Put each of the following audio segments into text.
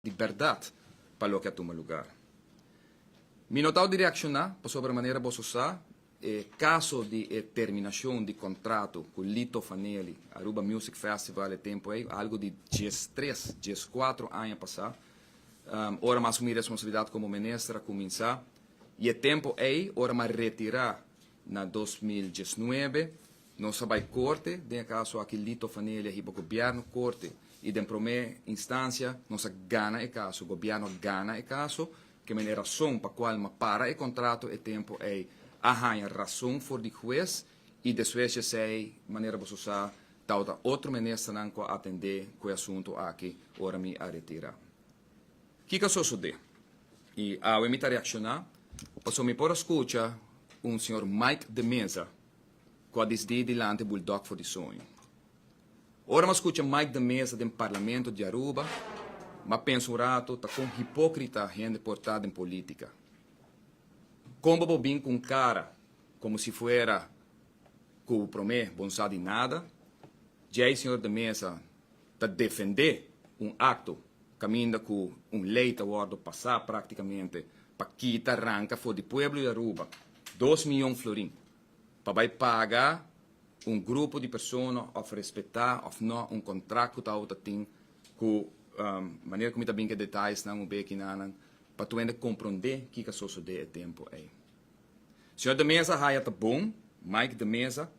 di bèrdat pa loke a tuma lugar. Mi no tau di reakshoná pasobra manera boso sa e kaso di e terminashon di kontrato ku Lito Fanelli, Aruba Music Festival e tempu ei, algu di dies tres, dies kuatro aña pasá, ora mas ku mi responsabilidat komo minister a kuminsá i e tempu ei ora mi a retirá Na dos mil diesnuebe, nos a bai korte, den e kaso aki Lito Fanelia hiba gobièrnu korte i den promé instancia nos a gana e kaso, gobièrnu a gana e kaso, kemen e rason pa kual mi a para e kontrato e tempu ei a haña rason for di hues i despues dj'esei manera boso sa tabata otro ministernan ku a atendé ku e asuntu aki ora mi a retira. Kiko a sosodé? I awe mi ta reakshoná pasobra mi por a skucha un señor Mike de Meza ku a disdí dilanti bulldog for di soño. Ora mi a skucha Mike de Meza den parlamento di Aruba, mi a pensa un ratu ta kon hipókrita hende por ta den polítika. Kon bo por bin ku un kara komo si fuera ku promé bo no sa di nada? Djei señor de Meza. ta defendé un akto kaminda ku un lei ta wòrdu pasá praktikamente pa kita ranka for di pueblo di Aruba dos miyon florin pa bai paga un grupo di persona òf respetá òf nò un kontrakt ku tabata tin ku manera ku mi ta bin ke detayesnan un beki nanan pa tuende komprondé kiko a sosodé e tempu ei. Señor de Meza haya ta bon, Mike de Meza,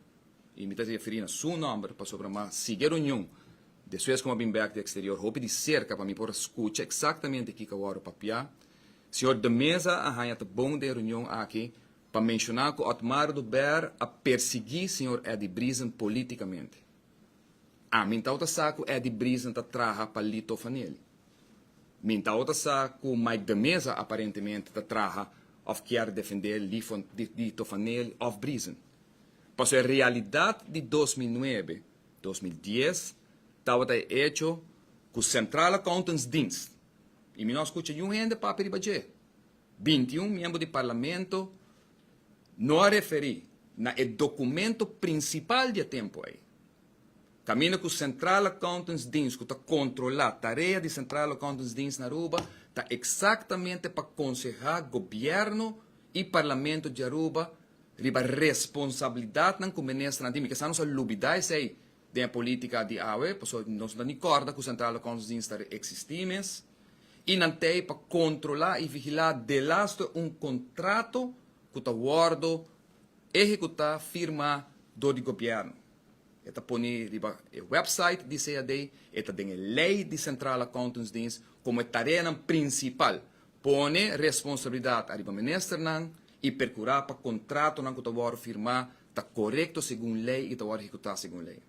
y mi ta referi na su nomber pasobra m'a sigui e reunion despues cu m'a bin bek di exterior hopi di cerca pa mi por a scucha exactamente kico a worde papia. Señor de Meza a haya ta bon den e reunion aki pa menciona cu Otmar Duber a persegui señor Eddie Briezen politicamente. A mintau ta sa ku Eddie Brison ta traha pa Lito Fanelli. Mintau ta sa ku Mike de Meza aparentemente ta traha òf kier defendé Lito Fanelli òf Brison. Paso e realidat di dos mil nuebe, dos mil dies tabata e echo ku Centraal Accountantsdienst, i mi no a skucha yun hende papia riba dje, binti un miembro di parlamento no a referi na e dokumento prinsipal di e tempu ei, kaminda ku Centraal Accountantsdienst ku ta kontrolá tarea di Centraal Accountantsdienst na Aruba ta eksaktamente pa konsehá gobièrnu i parlamento di Aruba riba responsabilidatnan ku menesternan tin. Mi kasa nos a lubidá esei den e polítika di awe, pasobra nos no ta ni kòrda ku Centraal Accountantsdienst ta eksistí mes. i nan tei pa kontrolá i vigilá delaster un kontrato ku ta wòrdu ehekutá firmá dor di gobièrnu. E ta pone riba e wèpsait di CAD, e ta den e lei di Sentraal Accountantsdienst komo e tareanan prinsipal, pone responsabilidat ariba ministernan i perkurá pa kontratonan ku ta wòrdu firmá ta korekto segun lei i ta wòrdu ehekutá segun lei.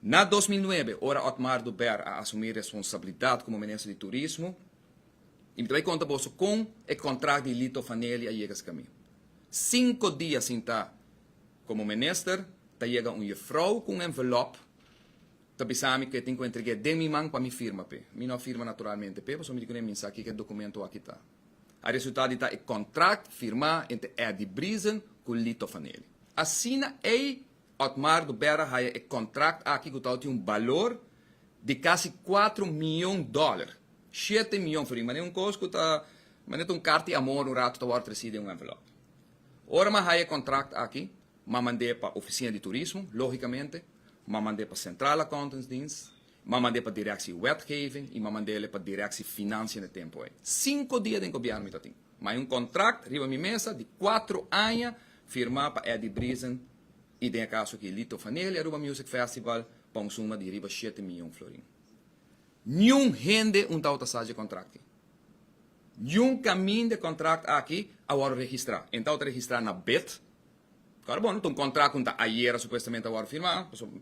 Na dos mil nuebe, ora Otmar Dubert a asumí responsabilidat komo minister di turismo, i mi ta bai konta boso kon e kontrakt di Lito Fanelli a yega eskamí. Sinku dia sin ta komo minister, ta yega un yefrou ku un envelòp ta bisa mi ku e tin ku entreg'é den mi man pa mi firma p'e. Mi no a firma naturalmente p'e pasobra mi di kuné minsa kiko e dokumentu aki ta. A resulta di ta e kontrakt firmá entre Eddy Briezen ku Lito Fanelli. Asina ei Otmar do bèra haya e kòntrakt aki ku tabata tin un balor di kasi kuatro mion dòler, shete mion for i. Mane un kos ku ta mane ta un kart di amor un ratu ta wòrdu trasí den un envelòp. Ora m'a haya e kòntrakt aki, m'a mand'é pa Ofisina di Turismo, lógikamente, m'a mand'é pa Centraal Accountantsdienst, m'a mand'é pa Direksie Wetgeving i m'a mand'é pa Direksie Finansje na tempu ei. Sinku dia den gobièrnu mi ta tin. Ma hay un contract riba mi mesa di cuatro aña firma pa Eddie Brisen y den e caso aki Lito Vaneli Aruba Music Festival pa un suma di riba shete miyon florin. Niun hende un tawata sa dje contract aki. Niun camin de contract aki a worde registra. En tawata registra na bed. Awor bon, ta un contract cu ta ayera supuestamente a wordo firma, pasobra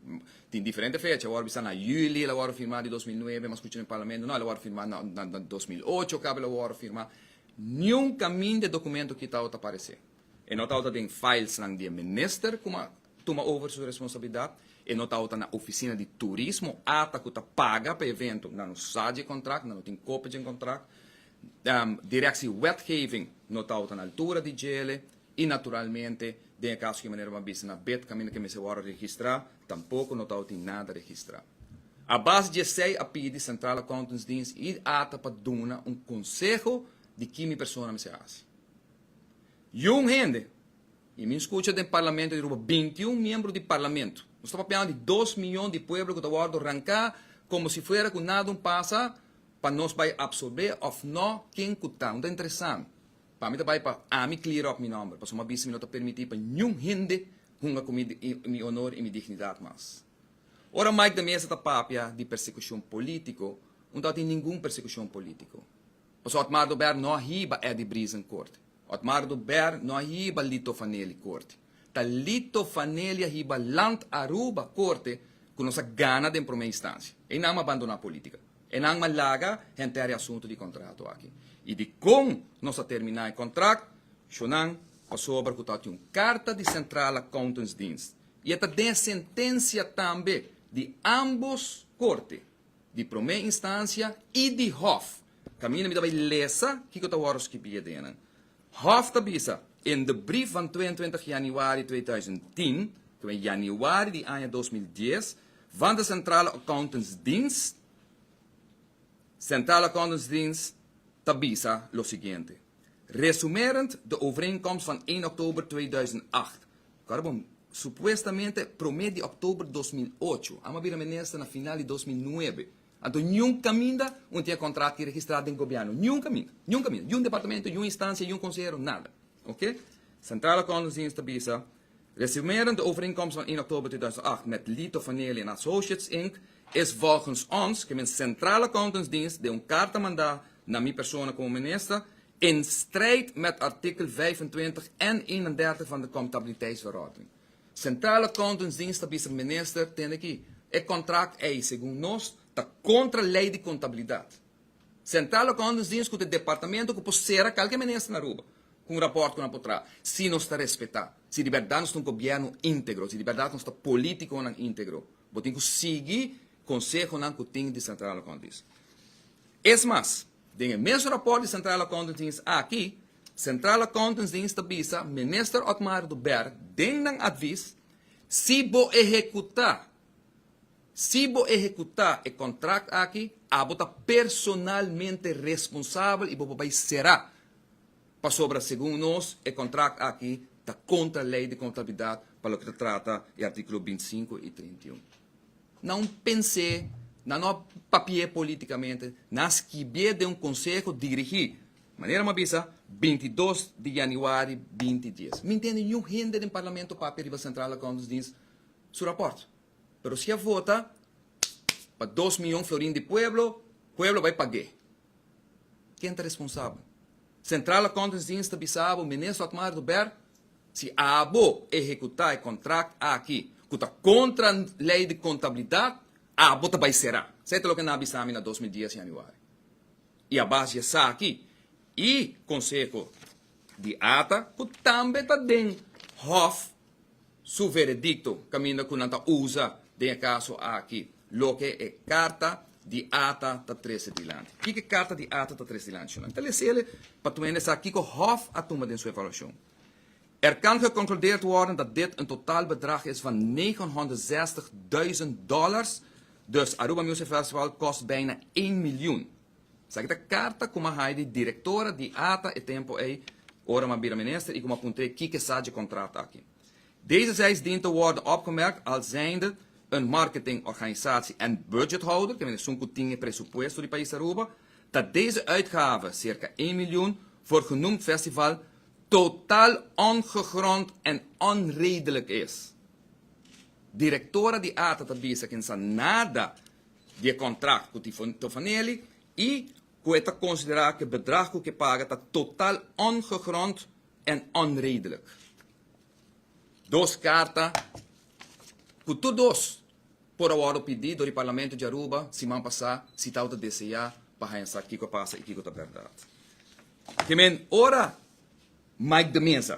tin diferente fecha, a wordo bisa na juli el a wordo firma di dos mil nuebe, mas scucha mi Parlamento, no, el a wordo firma na na dos mil ocho caba el a wordo firma, niun camin de documento kitao ta parece. E no tawata den filesnan di e Minister cu a tuma over su responsabilidad, e no tawata na Oficina di Turismo ata cu ta paga pa e evento, nan no sa dje contract, nan no tin copia dje contract, Directie Wetgeving no tawata na altura di djele, I naturalmente den e kaso ku e manera bo a bisa na bet kaminda ke mester wòrdu registrá, tampoko no tabata tin nada registrá. A base dje esei a pidi Centraal Accountantsdienst i ata pa duna un konseho di ki mi persona mester hasi. Yun hende, i mi skucha den Parlamento di Aruba binti un miembro di Parlamento, nos ta papiando di dos miyon di pueblo ku ta wòrdu ranká komo si fuera ku nada un pasa pa nos bai absorbé òf nò ken ku ta. Un ta interesá mi. Pa mi ta bai pa ami clear up mi nomber, pasobra m'a bisa mi no ta permiti pa niun hende hunga ku mi mi honor i mi dignidad mas. Ora Mike de Meza ta papia di persecucion politico, un ta tin ningun persecucion politico. Paso Otmar Dober no a hiba Eddie Briezen corte. Otmar Dober no a hiba Lito Fanelli corte. Ta Lito Fanelli a hiba Land Aruba corte cu nos a gana den prome instancia. Einan m'a bandona politica. E nan m'a laga henter e asuntu di kontrato aki i di kon nos ta terminá e kontrakt, shunnan, pasobra ku ta tin un karta di Centraal Accountantsdienst i e ta den e sentensia tambe di ámbos korte, di promé instansia i di hòf. Kaminda mi ta bai lesa kiko ta wòrdu skibi adenan. Hof ta bisa, en de brief van twee en twintig januari tweeduizend tien, ku e januari di aña dos mil dies, van de Centrale Accountantsdienst, Centrale Accountantsdienst ta bisa lo siguiente, Resumerend de overeenkomst van één oktober tweeduizend acht, ku a bon, supuestamente promé di oktober dos mil ocho, amo a bira minister na final di dos mil nuebe, Anto niun kaminda un tin e kontrat tin registrá den gobièrnu, niun kaminda, niun kaminda, niun departamento, niun instansia, niun konsehero, nada. Ok. Centraal Accountantsdienst ta bisa, Resumerend de overeenkomst van 1 oktober 2008 met Lito Vanneli en Associates Inc. is volgens ons, ke men Centraal Accountantsdienst, den un karta mandá na mi persona komo minister, in strijd met artikel 25 en 31 van de Comptabiliteitsverordening. Centraal Accountantsdienst a bisa Minister tende ki e contract ei segun nos ta contra ley di contabilidad. Centraal Accountantsdienst cu ta e departamento cu por cera calke Minister na Aruba cu un rapport cu nan por traha si nos ta respeta si di berdad nos ta un gobierno integro, si di berdad nos ta politiconan integro. Bo tin cu sigui consehonan cu tin di Centraal Accountantsdienst. Es mas. Den e mes rapòrt di Centraal Accountantsdienst aki, Centraal Accountantsdienst ta bisa Minister Otmar du Berg den nan advis, Si bo ehekutá si bo ehekutá e kontrakt aki, abo ta personalmente responsabel i bo por bai será, pasobra segun nos e kontrakt aki ta kontra lei di kontabilidat pa loke ta trata e artíkulo binti sinku i trinta i un. Nan a pens'é, nan no a papi'é polítikamente, nan a skibié den un konseho dirigí, manera mi a bisa, bintidos di yanüari binti dies. Mi ntende niun hende den parlamento papia riba Centraal Accountantsdienst su rapòrt, pero si a vota pa dos mion florin di pueblo, pueblo a bai pag'é. Ken ta responsabel? Centraal Accountantsdienst ta bisa bo, Meneer Sotmar de Ber, si abo ehecuta e contract aki cu ta contra Ley di Contabilidad, abo ta bay cera. Esey ta loke nan a bisa mi na dos mil dies januari. Y a base di esaki y conseho di Ata, cu tambe ta den Hof Su veredicto caminda cu nan ta uza den e caso aki loke e carta di ata ta trece dilanti. Kiko e carta di ata ta trece dilanti? Nan ta lese el pa tmene sa kiko Hof a tuma den su evaluacion. Er kan geconcludeerd worden dat dit een totaal bedrag is van negenhonderdzestigduizend dollars, dus Aruba Music Festival kost bijna één miljoen. Esaki ta karta ku m'a hai di direktora di ata e tempu ei, ora m'a bira minister, i ku m'a puntr'é kiko sa dje kontrakt aki. Deze zeis dien te worde opgemerkt als zijnde een marketingorganisatie en budgethouder, ke men esun ku tin e presupuesto di Pais Aruba, ta deze uitgave, cerca één miljoen, voor genoemd festival totaal ongegrond en onredelijk is. Direktora di ata ta bisa kin sa nada di e kontrakt ku Toffanelli i ku e ta konsiderá ku e bedrag ku ke paga ta total ongegrond en onredelijk. Dos karta ku tur dos por a wòrdu pidi dor di Parlamento di Aruba siman pasá si ta outa deseá pa haña sa kiko a pasa i kiko ta bèrdat. Ke men ora Mike de Meza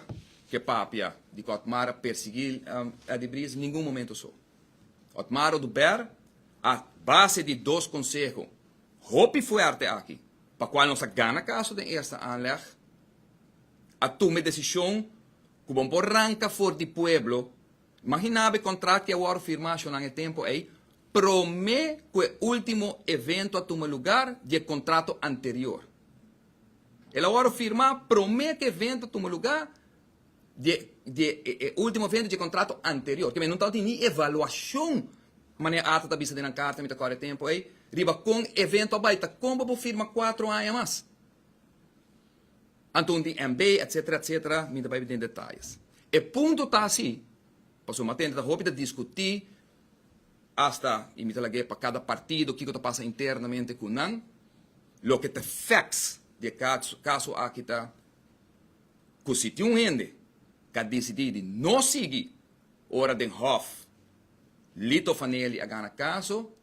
ke papia di ku Otmar a persiguí Eddy Bries ningun momentu so. Otmaro Dubert a base di dos konseho hopi fuerte aki pa kual nos a gana kaso den eerste aanleg a tuma e desishon ku bo por ranka for di pueblo, imaginá bo e kontrakt ki a wòrdu firmá ashonan e tempu ei promé ku e último evento a tuma lugar di e kontrato anterior. El a wòrdu firmá promé ku e evento a tuma lugar di e ultimo vende dje kontrato anterior. Kemey no tabata ni evaluashon, manera Arthur ta bisa den nan karta mi ta kore tempo ey, riba kon e vento a bai ta kon pa bo firma kuatro aña mas. Anto un tin MB etsetera etsetera mi ta bai den detayes. E punto ta asi, pasobra mi a tende ta hopi ta diskutí hasta y mi ta lag'é pa kada partido kiko ta pasa internamente ku nan, loke ta facts di e kaso aki ta. ku si tin un hende ku a disidí di no sigui ora den hòf Lito Fanelli a gana kaso,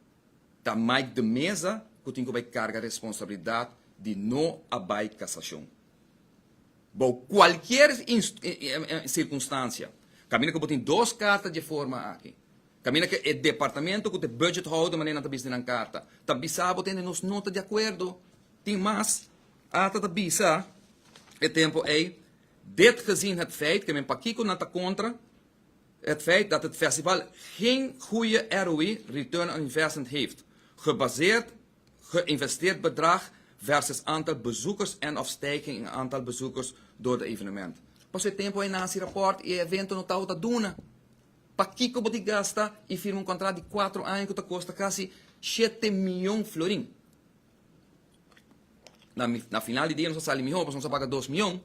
ta Mike de Meza ku tin ku bai karga responsabilidat di no a bai kasashon. Bou kualkier sirkunstansia, kaminda ku bo tin dos karta dje forma aki, kaminda ku e departamento ku ta e budgethouder, manera nan ta bis'e nan karta, ta bisa bo ta hende nos no ta di akuerdo, Tin mas, Ata ta bisa e tempo ei, Dit gezien het feit, ke men pakiko nan ta kontra het feit dat het festival geen goeie ROI, return on investment, heeft, gebaseerd geïnvesteerd bedrag versus aantal bezoekers en of stijging in aantal bezoekers door de evenement. Paso e tempo ei nasi rapport i e evento no tabata duna, pakiko bo di gasta i firma un contract di cuatro aña ku ta kosta casi shete miyon florin? Na final di dia nos a sali mihó pasobra nos a paga dos mion,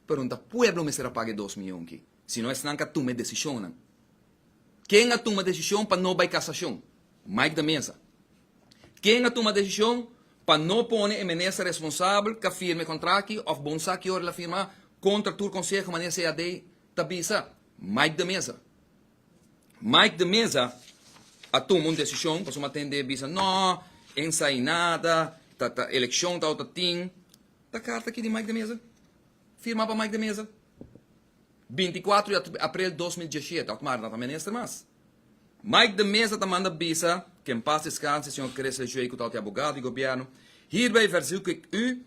pero no ta pueblo mester a paga e dos mion ki, sino esnan ku a tuma e desishonnan. Ken a tuma desishon pa no bai kasashon? Mike de Meza. Ken a tuma desishon pa no pone e minister responsabel ku a firma e kontrakt ki òf bon sa ki ora el a firmá kontra tur konseho manera CAD ta bisa? Mike de Meza. Mike de Meza a tuma un desishon pasobra a tende e bisa, No, ensainada, ta ta elekshon ta otro tin. Ta karta aki di Mike de Meza, firmá pa Mike de Meza, binti kuatro di aprel dos mil dieshiete, òf Marta ta minister mas. Mike de Meza ta manda bisa, ke en pas deskanse, señor Cresles Joey ku ta otia abogado di gobièrnu, Hierbij verzoek ik u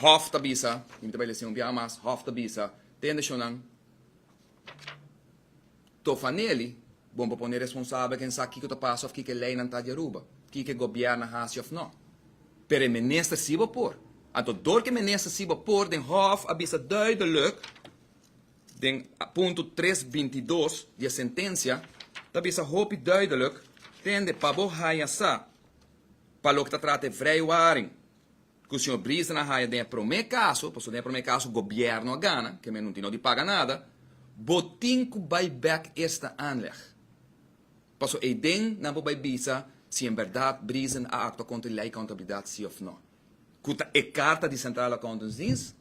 Hof ta bisa, mi ta bai lesión un biaha mas, Hof ta bisa, Te nacionnan, tofa Nelly, bon pa pone responsable ken sa kiko ta pasa of kiko e leinan ta di Aruba, kiko e gobièrnu a hasi of no. Pero e minister si bo por. Anto dor ku e minister si bo por den Hof a bisa duideluk den punto tres binti dos di e sentencia ta bisa hopi duideluk tende pa bo haña sa pa loke ta trata e vrijwaring, Ku señor Briester a haya den e promé kaso, pasobra den e promé kaso gobièrnu a gana, kèn men no tin no di paga nada, bo tin ku bai bèk esta aanleg, paso eiden nan por bai bisa si en bèrdat Briester a aktua kontra di lei kountabilidat si òf nò. Ku ta e karta di Centraal Accountantsdienst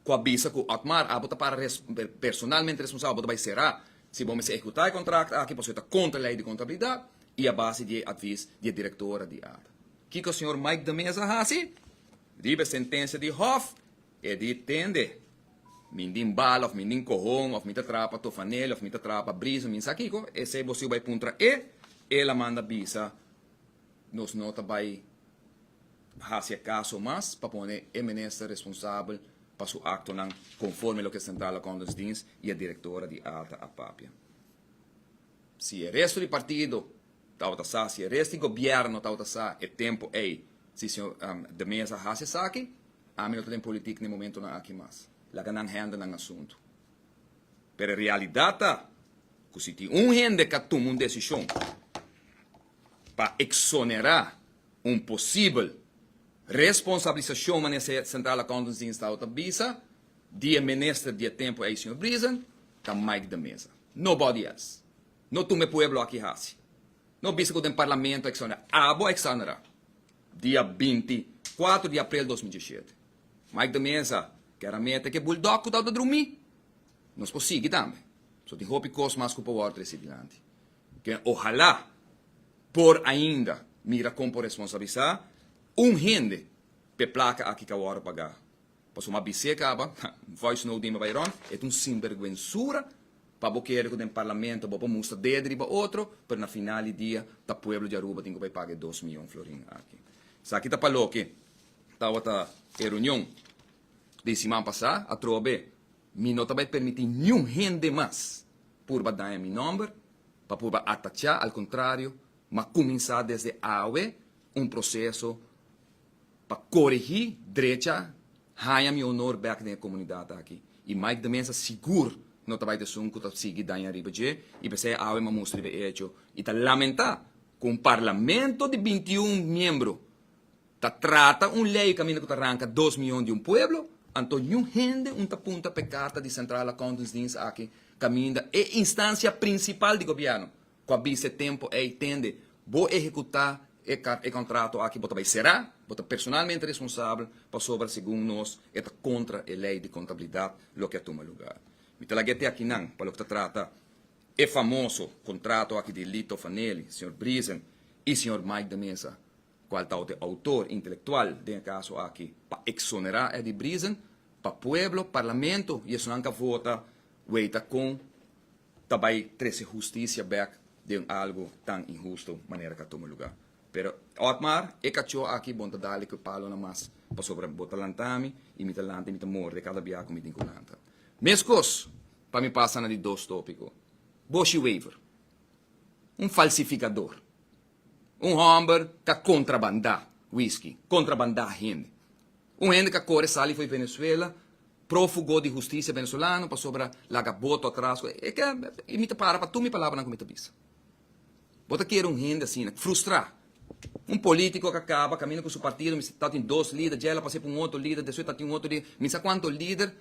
ku a bisa ku Otmar abo ta para res personalmente responsabel, bo ta bai será si bo mester ehekutá e kontrakt aki pasobra e ta kontra lei di kountabilidat i a base di e advis di e direktora di Ada. Kiko señor Mike de Meza hasi? Riba e sentencia di hof e di tende mi din bala of mi din cohon of mi ta traha pa Tofanelli of mi ta traha pa Brisa mi sa kiko esey bo siu bay puntra e el a manda bisa nos no ta bay hasi e caso mas pa pone e minister responsabel pa su actonan conforme loke Central Accountants Dienst y e directora di Alta a papia. Si e resto di partido tabata sa, si e resto di gobièrnu tabata sa e tempu ei, si señor De Meza a hasi esaki, ami no ta den politik n'e momentunan aki mas. Laga nan hende nan asuntu. Pero e realidat ta ku si tin un hende ka tuma un desishon pa eksonerá un posibel responsablisashon manera Centraal Accountantsdienst tabata bisa, Di e minister di e tempu ei, señor Brisen, ta Mike de Meza. Nobody else. No tuma e pueblo aki hasi. No bisa ku den parlamento a exonera. Abo a exonera dia binti kuatro di aprel dos mil diesiete. Mike de Meza ke ramete ke bulldog ku ta tabata drumi. Nos por sigui tambe. So tin hopi kos mas ku por wòrdu trese dilanti. Ke ohala por ainda mira kon por responsabilisa un hende p'e plaka aki ka wòrdu pagá. Pasobra m'a bis'é kaba, ha, voice note di mi bai rònt, e ta un sinbergwensura pa bo kere ku den parlamento bo por mustra dedo riba otro, pero na final di dia ta pueblo di Aruba tin ku bai paga e dos mion florin aki. Esaki ta pa loke tawata e reunion den siman pasá, atrobe mi no ta bai permití niun hende mas purba daña mi nòmber, pa purba atachá, al kontrario, m'a kuminsá desde awe un proseso. pa corigi drecha haña mi honor bek den e comunidad aki y Mike de Meza sigur no ta bay ta esun cu ta sigui daña riba dje y p'esey awe m'a musta riba e hecho y ta lamenta cu un parlamento di binti un miembro ta trata un ley caminda cu ta ranca dos miyon di un pueblo anto niun hende un ta punta p'e carta di Central Accountants Dienst aki caminda e instancia principal di gobierno. Cu a bisa e tempo ey tende bo ehecuta e car e contrato aki bo ta bay cera, bo ta personalmente responsabel pasobra segun nos e ta contra e ley di contabilidad loke a tuma lugar. Mi ta laga e te akinan pa loke ta trata e famoso contrato aki di Lito Fanelli, señor Brisen y señor Mike de Meza, cual tawat e autor intelectual den e caso aki, pa exonera Eddy Brisen pa pueblo, parlamento y esonan ca vota wey ta con ta bai trese hustisia bek den algu tan inhusto manera ka tuma luga. Pero Otmar, e kacho aki bon ta dale ku e palonan mas, pasobra bo ta lanta mi i mi ta lanta i mi ta morde kada bia ku mi tin ku lanta. Meskos pa mi pasa na di dos topiko, Boshi Wever, un falsifikador. Un hòmber ka kontrabandá wiski, kontrabandá hende. Un hende ka kore sali fo'i Venezuela, prófugo di hustisia venezolano pasobra laga boto atras ku e. Y mi ta para pa tur mi palabranan ku mi ta bisa. Bo ta kere un hende asina, frustrá. Un polítiko ka kaba kaminda ku su partido, mi sa tatin dos líder, dje el a pas'é pa un otro líder, despues tatin un otro líder, mi sa kuantu líder.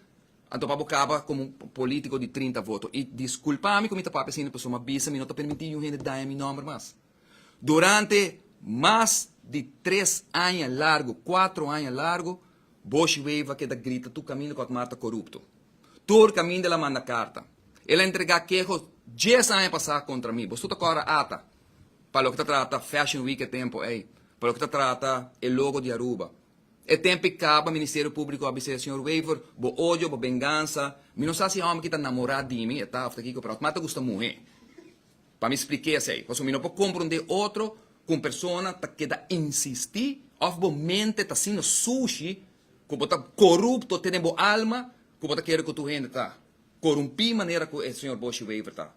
Anto pa bo kaba komo un polítiko di trinta voto. I diskulpa mi ku mi ta papia asina pasobra mi a bisa mi no ta permití yun hende daña mi nòmber mas. Durante mas di tres aña largu, kuatro aña largu, Boshi Wever a keda grita tur kaminda ku Akmar ta korupto. Tur kaminda el a manda karta. El a entregá keho dies aña pasá kontra mi. Boso ta kòrda ata pa loke ta trata Fashion Week e tempu ei, pa loke ta trata e logo di Aruba, E tempi kaba, Ministerio Públiko a bis'é, Señor Wever, bo odio, bo bengansa, mi no sa si e hòmber ki ta namorá di mi e ta òf ta kiko, pero atma ta gusta muhé. Pa mi spliké esei, pasobra mi no por komprondé otro ku un persona ta keda insistí òf bo mente ta asina sushi ku bo ta korupto te den bo alma ku bo ta kere ku tur hende ta korumpí manera ku e señor Boshi Wever ta.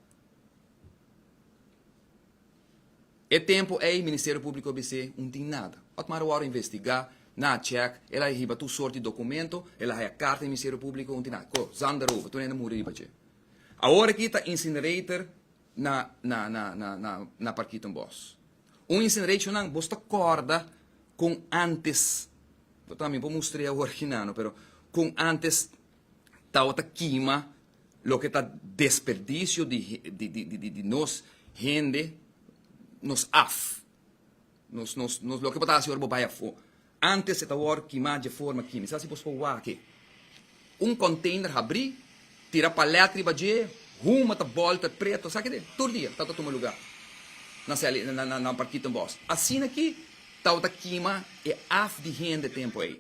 E tempu ei Ministerio Públiko a bis'é, Un tin nada. Otman Roa Oro a investigá, nan a chèk, el a haya hiba tur sort di dokumento, el a haya karta di Ministerio Públiko, un tin nada. Ko, zanda roba, tur hende a muri riba dje. Awor akí ta incinerator na na na na na na Parkito en Bos. Un incinerator nan bos ta kòrda kon ántes, bo tambe bo mustr'é awor aki nano, pero kon ántes. tawata kima loke ta desperdicio di nos hende, nos af, nos nos nos loke bo ta hasi ora bo bai afo, antes e ta wòrdu kima dje forma kima, esaki bo por wak e, un container habri, tira palèt riba dje, huma ta bòl ta preto, saki de tur dia tawata tuma lugá na sèl na parkito en bòs, asina aki tawata kima e af di hende tempu ei.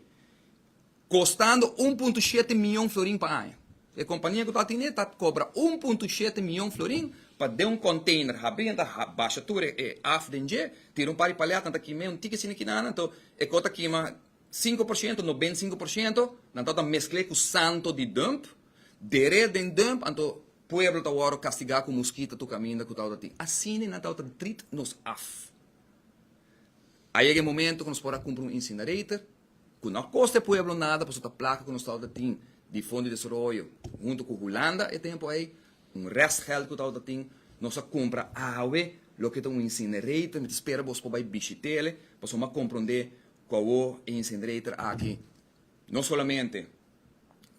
kostando un punto shete mion florin pa aña. E kompania ku ta atené ta kobra un punto shete mion florin pa den un konteiner habrí nan ta basha tur e af den dje, tira un par di palèt nan ta kim'é un tiki asina kinanan, to e kos ta kima sinku por shento, nobenta i sinku por shento, nan ta ta mesk'é ku santo di dump, der'é den dump, anto pueblo ta wòrdu kastigá ku muskita tur kaminda ku tabata tin. Asina nan tabata trit nos af. A yega e momento ku nos por a kumpra un insinerator, ku no a kosta e pueblo nada pasobra ta plaka ku nos tabata tin di Fondo di Desaroyo huntu ku Hulanda e tempu ei, un restgeld ku tabata tin, nos a kumpra awe loke ta un incinerator, mi ta spera bos por bai bishit'e pasobra mi a komprondé ku awo e incinerator aki no solamente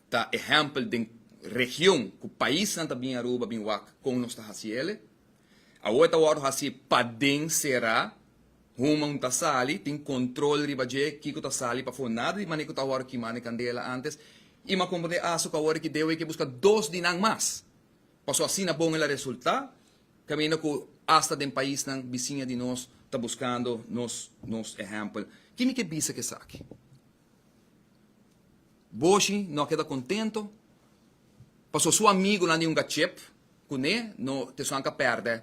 ta ehèmpel den region ku paisnan ta bin Aruba bin wak kon nos ta hasiel. Awo e ta wòrdu hasi paden sera, human un ta sali, tin control riba dje kico ta sali pafó, nada di manera cu ta wòrdu kimá n'e candela antes, y m'a compra n'e asu cu awor deu ey ke busca dos di nan mas, pasobra asina bon el a resulta, caminda cu hasta den paisnan bisiña di nos ta buscando nos ehempel. Kin mi ke bisa cu esaki? Boshi no a keda kontento paso su amigunan di hunga chep kuné no te su anka pèrdè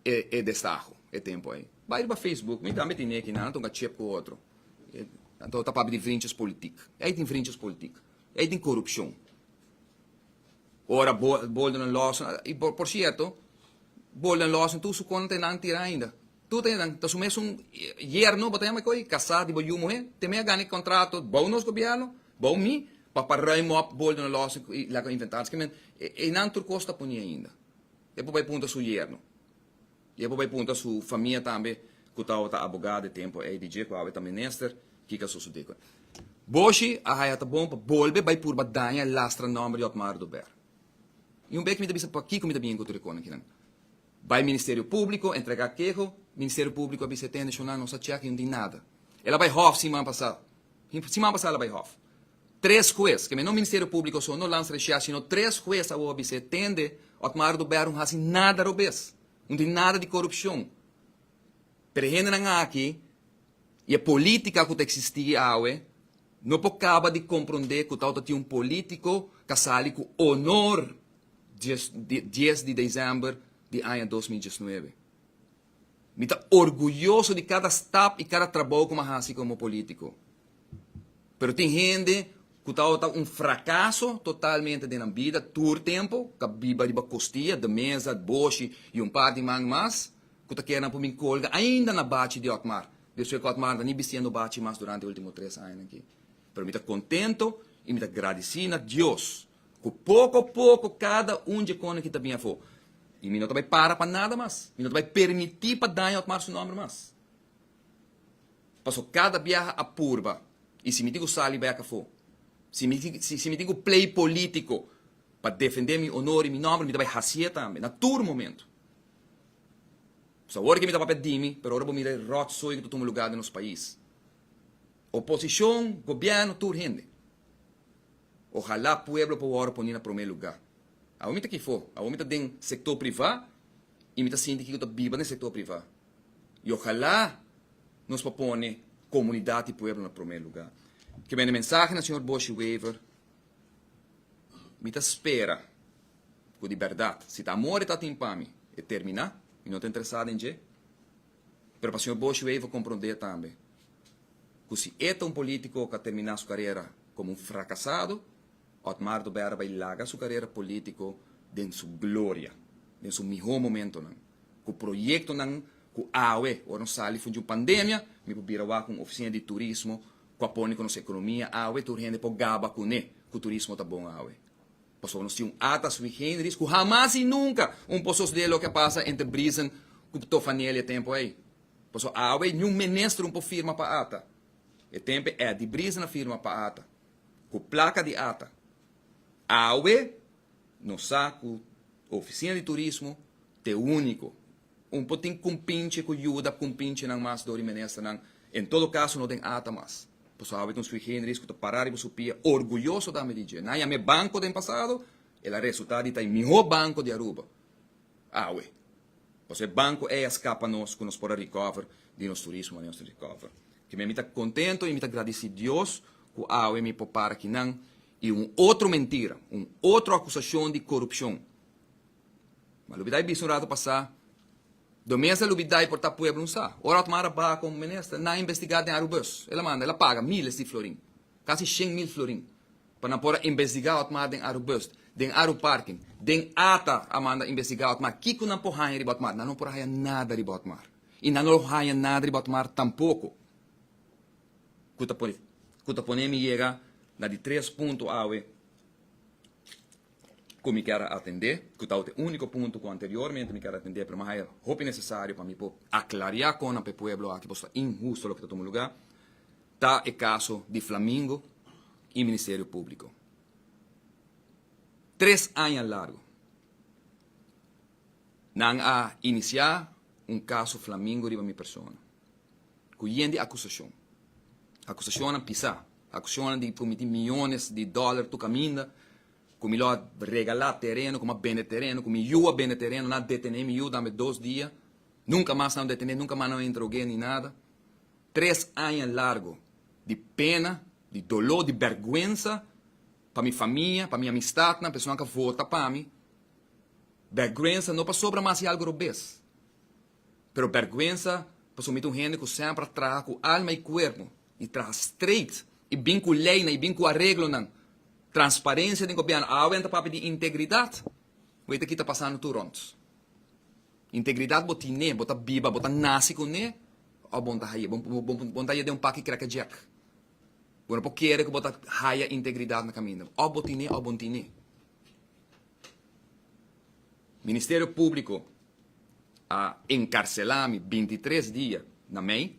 e e destaho e tempu ei. Bai riba Facebook, mi tambe tin neki, nan a ta hunga chep ku otro. Anto ta papia di vrinchis politik. Ei tin vrinchis politik. Ei tin korupshon. Ora bolden a lòs, i por sierto, bolden a lòs tur su konta ta e nan tira ainda. Tur ta e nan. Ta su mesun yerno bo ta yama ko'i, kasá di bo yu muhé, te mei a gana e kontrato bou nos gobièrnu, bou mi, pa pa ruim òp bolden a lòs i laga inventar. Esaki men, e nan tur kos ta ponié ainda. E por bai punta su yerno. I e por bai punta su famia tambe ku tabata abogá den tempu ei di dje ku awe ta minister kiko a sosodé ku nan. Boshi a haya ta bon pa bolbe bai purba daña e lastra nòmber di Otmar Dubert. I un bek mi ta bisa pakiko mi ta bini ku tur e kosnan kinan. Bai Ministerio Públiko entregá keho, Ministerio Públiko a bisa tende shonán nos a chèk i no tin nada. El a bai hòf siman pasá, siman pasá el a bai hòf. Tres hues, kemey no Ministerio Públiko so no lans reshia sino tres hues a wou bis'é tende Otmar Duber no hasi nada robes, no tin nada di korupshon. Pero e hendenan aki i e polítika ku ta eksistí awe no por kaba di komprondé ku ta ota tin un polítiko ku a sali ku onor dies di dies di desèmber di aña dos mil diesnuebe. Mi ta orguyoso di kada stap i kada trabou ku mi a hasi komo polítiko. Pero tin hende ku ta tabata un frakaso totalmente den nan bida tur tempu, ta biba riba kostia, De Meza, Boshi i un par di man mas, ku ta kere nan pon bin kolga ainda na bachi di Otmar, despues ku Otmar no ta ni bistiendo bachi mas durante e último tres añanan aki. Pero mi ta kontento i mi ta gradisí na Dios Ku poko poko kada un dje kòne ki ta bini afó, i mi no ta bai para pa nada mas, mi no ta bai permití pa daña Otmar su nòmber mas. Pasobra kada biaha a purba, i si mi tin ku sali bai ak afó, si mi si mi tin ku plei polítiko pa defendé mi onor i mi nòmber, mi ta bai hasié tambe, na tur momentu. Pues awor ke mi ta papia di mi, pero ora bo mira e ròtsoi ku ta tuma lugá den nos pais, oposishon, gobièrnu, tur hende. Ojalá pueblo por wòrdu poní na promé lugá. Awor mi ta kifó? Awor mi ta den sektor privá i mi ta sinti kiko ta biba den sektor privá. I ojalá nos por pone komunidat i pueblo na promé lugá. Kibé na e mensahe na señor Boshi Wever, mi ta spera ku di bèrdat, si ta amor e tatin pa mi, e terminá, mi no ta interesá den dje. Pero pa señor Boshi Wever comprende tambe cu si e ta un politico ca termina su carera como un fracasado, Otmar do Berra bay laga su carera politico den su gloria, den su miho momentonan, cu proyectonan cu awe ora nos sali funt di un pandemia mi por bira waha cu un oficina di turismo cu a pone cu nos economia awe tur hende por gaba cune cu turismo ta bon awe. Pasobra nos tin un ata sui generis ku hamas i nunka un por sosodé loke a pasa entre Brisen ku Tofanel e tempu ei. Paso awe niun minister un por firma pa ata. E tempe Eddie Brisen a firma pa ata, ku plaka di ata. Awe nos sa ku Ofisina di Turismo t'e úniko un por tin kumpinche ku yuda kumpinchenan mas dor di ministernan. En todo kaso no den ata mas. Boso a hawe ku un Sui Generis ku ta pará riba su pia orguyoso tambe di dje. Nan yam'é banko den pasado, el a resultá di ta e mihó banko di Aruba awe. Boso e banko ei a skapa nos ku nos por a recover di nos turismo aneo tin recover. Kibé mi ta kontento i mi ta gradisí Dios ku awe mi por para ki nan i un otro mentira, un otro akusashon di korupshon. Malubi ta e bisa un ratu pasá. Do mester lo bidai por ta pueblo un sa. Ora Otmar a baha como minister, nan a investiga den Arubus. El a manda, el a paga miles di florin, casi shen mil florin, pa nan por a investiga Otmar den Arubus, den Aruparking, den ata a manda investiga Otmar. Kico nan por haya riba Otmar? Nan no por haya nada riba Otmar. Y nan no lo haya nada riba Otmar tampoco. Cu ta pone mi yega na di tres punto awe. ku mi kier a atendé, ku ta ote úniko punto ku anteriormente mi kier a atendé, pero mi haya hopi nesesario pa mi por aklariá kon na pa e pueblo aki, boso ta inhusto loke ta tuma lugá, ta e kaso di Flamingo i Ministerio Públiko. Tres aña largu nan a inisiá un kaso Flamingo riba mi persona. ku yen di akusashon. Akusashonnan pisá. Akusashonnan di prometi miyones di dòler tur kaminda, ku mi lo a regalá tereno, ku mi a bende tereno, ku mi yu a bende tereno. Nan a detené mi yu dambe dos dia. Nunka mas nan lo detené, nunka mas nan lo interogu'é ni nada. Tres aña largu di pena, di doló, di bèrgwensa pa mi famia, pa mi amistatnan, personanan ku a vota pa mi. Bèrgwensa no pasobra mas i algu robes. Pero bergwensa pasobra mi ta un hende ku semper a traha ku alma i kuerpo, i traha streit, i bin ku leinan, i bin ku areglonan, transparensia den gobièrnu. Awe nan ta papia di integridat, bo e ta kita pasando tur rònt. Integridat bo tin'é, bo ta biba, bo ta nasi kun'é òf bon ta haya, bon ta haya den un paki krekkedjèk. Bo no por kere ku bo ta haya integridat na kaminda. Òf bo tin'é òf bo no tin'é. Ministerio Públiko a enkarselá mi binti tres dia na mei,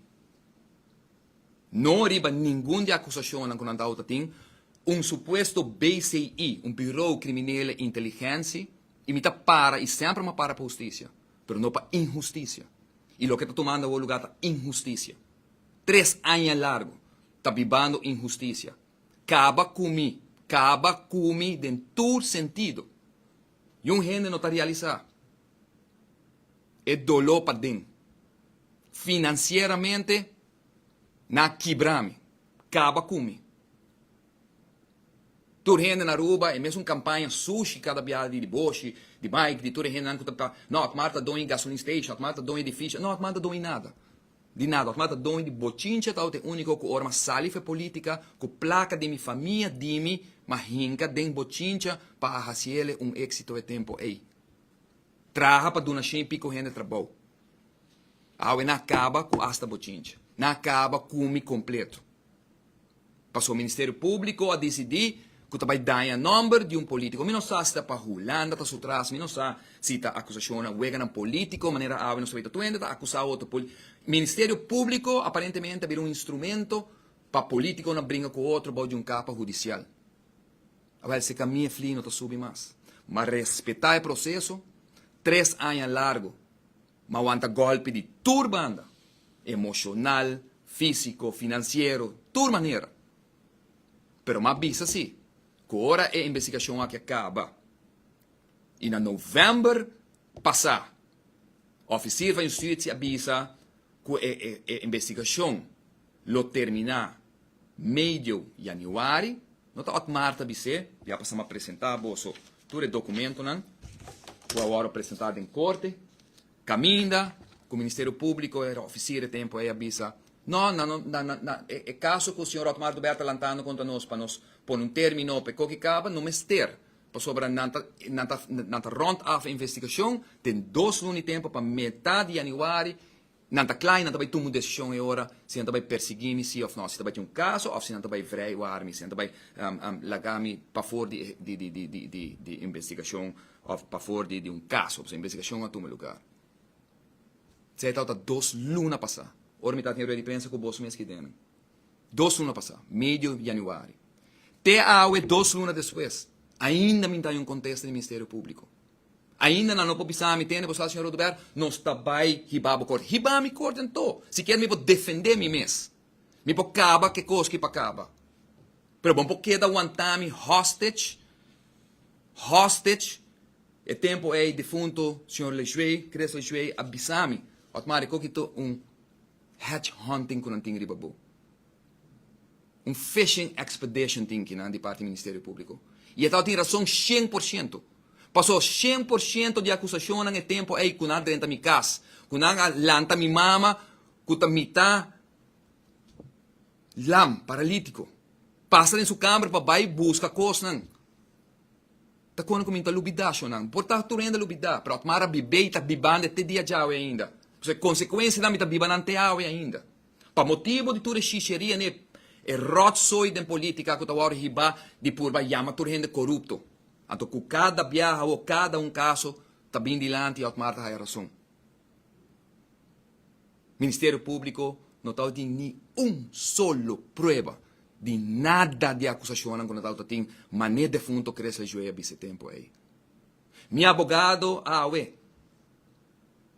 no riba ningun di akusashonnan ku nan ta outa tin, un supuesto BCI, un Birou Kriminele Inteligensi, i mi ta para i semper mi a para pa hustisia, pero no pa inhustisia. I loke ta tumando awor lugá ta inhustisia. Tres aña largu ta bibando inhustisia, Kaba ku mi, kaba ku mi den tur sentido. Yon hende no ta realisá e doló paden. Finansieramente nan a kibrá mi, kaba ku mi. Tur hende na Aruba, e mesun kampaña sushi kada biada di Boshi, di Mike, di tur e hendenan ku ta, no, Akmar ta doña e gasolin station, Akmar ta doña e edifisio, no, Akmar no ta doña nada. Di nada, ora mi a ta doño di bochincha ta e úniko ku ora mi a sali fe polítika ku plaka di mi famia di mi mi a hinka den bochincha pa a hasi ele un éksito e tempu ei. Traha pa duna shin piko hende trabou. Awe nan a kaba ku asta bochincha. Nan a kaba ku mi kompletu. Paso Ministerio Publico a dicidi cu ta bay daña nomber di un politico. Mi no sa si ta pa Hulanda ta su tras, mi no sa si ta acusacionnan weganan politico, manera awe nos ta bay ta tuende ta acusa otro poli. Ministerio Publico aparentemente a bira un instrumento pa politiconan bringa cu otro bao di un capa hudicial. Awel si e camia fli no ta subi mas. M'a respeta e proceso, tres aña largo M'a wanta gòlpi di tur banda, emoshonal, físiko, finansiero, tur manera. Pero m'a bisa sí ku ora e investigashon aki a kaba i na novèmber pasá ofisir van justitsia a bisa ku e investigashon lo terminá Medio Januari, no ta ot Marta a bis'é. Di a pasa m'a presentá boso tur e dokumentonan ku a wòrdu presentá den korte. Kaminda ku Ministerio Públiko, e ofisir e tempu ei a bisa, No, na e kaso ku señor Otmar Dubert ta lantando kontra nos pa nos pone un término p'e koki kaba, no mester, pasobra nan ta rònt af e investigashon den dos luna i tempu pa metá di Januari Nan ta kla i nan ta bai tuma un desishon e ora si nan ta bai persiguí mi sí òf nò, si ta bai tin un kaso òf si nan ta bai vrei wak mi, si nan ta bai laga mi pafor di investigashon òf pafor di un kaso pasobra investigashon a tuma lugar. Sei tawata dos luna pasá, ora mi tabata tin e ruedadiprensa ku bos mes aki den. Dos luna pasá, medio yanüari. Te awe, dos luna despues, ainda mi nta haña un kontesta di Ministerio Públiko. Ainda nan no por bisa mi tende bo sal señor Oduber nos ta bai hiba bo corte hiba mi corte anto sikier mi por defende mi mes mi por caba ke cos ki pa caba pero bo no por keda wanta mi hostage hostage e tempo ey difunto señor Leshue Chris Leshue a bisa mi Otmar e koki to un hedge hunting ku nan tin riba bo. Un fishing expedition tin kinan di parti Ministerio Publico. Y e tao tin rason shen por shento. Paso shen por shento di acusashonnan e tempo ey cu nan a drenta mi cas, cu nan a lanta mi mama cu ta mita lam, paralitico, pasa den su camber pa bay busca cosnan, ta cona cu mi ta lubida shonnan. Por ta turenda lubida, pero Atmara bibey ta bibande te dia djawe ainda. P'esei consecuencianan mi ta bibanan te awe ainda. Pa motibu di tur e shisheria n'e ròtsoi den polítika ku ta wòrdu hibá di purba yama tur hende korupto. Anto ku kada biaha awor kada un kaso ta bin dilanti Otmar ta haya rason. Ministerio Públiko no ta awor tin ni un solo prueba di nada di akusashonnan ku no ta awor ta tin manera defunto Cresles Joey a bisa e tempu ei. Mi abogado awe,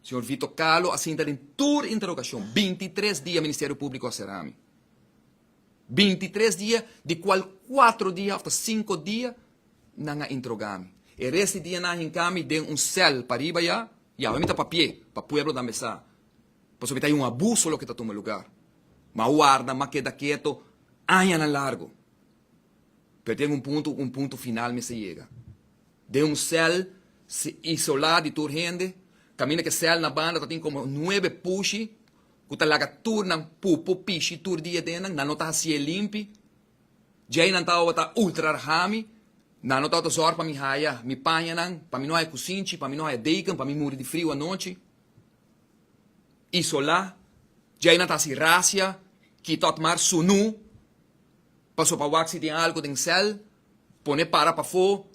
señor Vito Kahlo, a sinta den tur interogashon. Binti i tres dia Ministerio Públiko a será mi. Binti i tres dia, di kual kuatro dia òf ta sinku dia nan a interogá mi. E rest di dianan a hinká mi den un sèl pariba ya i awe mi ta papié pa pueblo tambe sa, pasobra mi ta haña un abuso loke ta tuma lugar. Mi a warda, mi a keda keto añanan largu. Pero ten un punto, un punto final mester yega. Den un cel isola di tur hende, caminda cu e cel na banda tatin como nuebe pushi cu ta laga turnan pupu, pishi tur dia den nan, nan no ta haci'e limpi, djei nan ta tabata ultra rhami, nan no tabata zorg pa mi haya mi paña nan, pa mi no haya cusinchi, pa mi no haya deken, pa mi muri di frio anochi. Isola, djei nan ta haci rasia, kitot mar, sunu. Paso pa wak si tin algo den cel, pone para pafo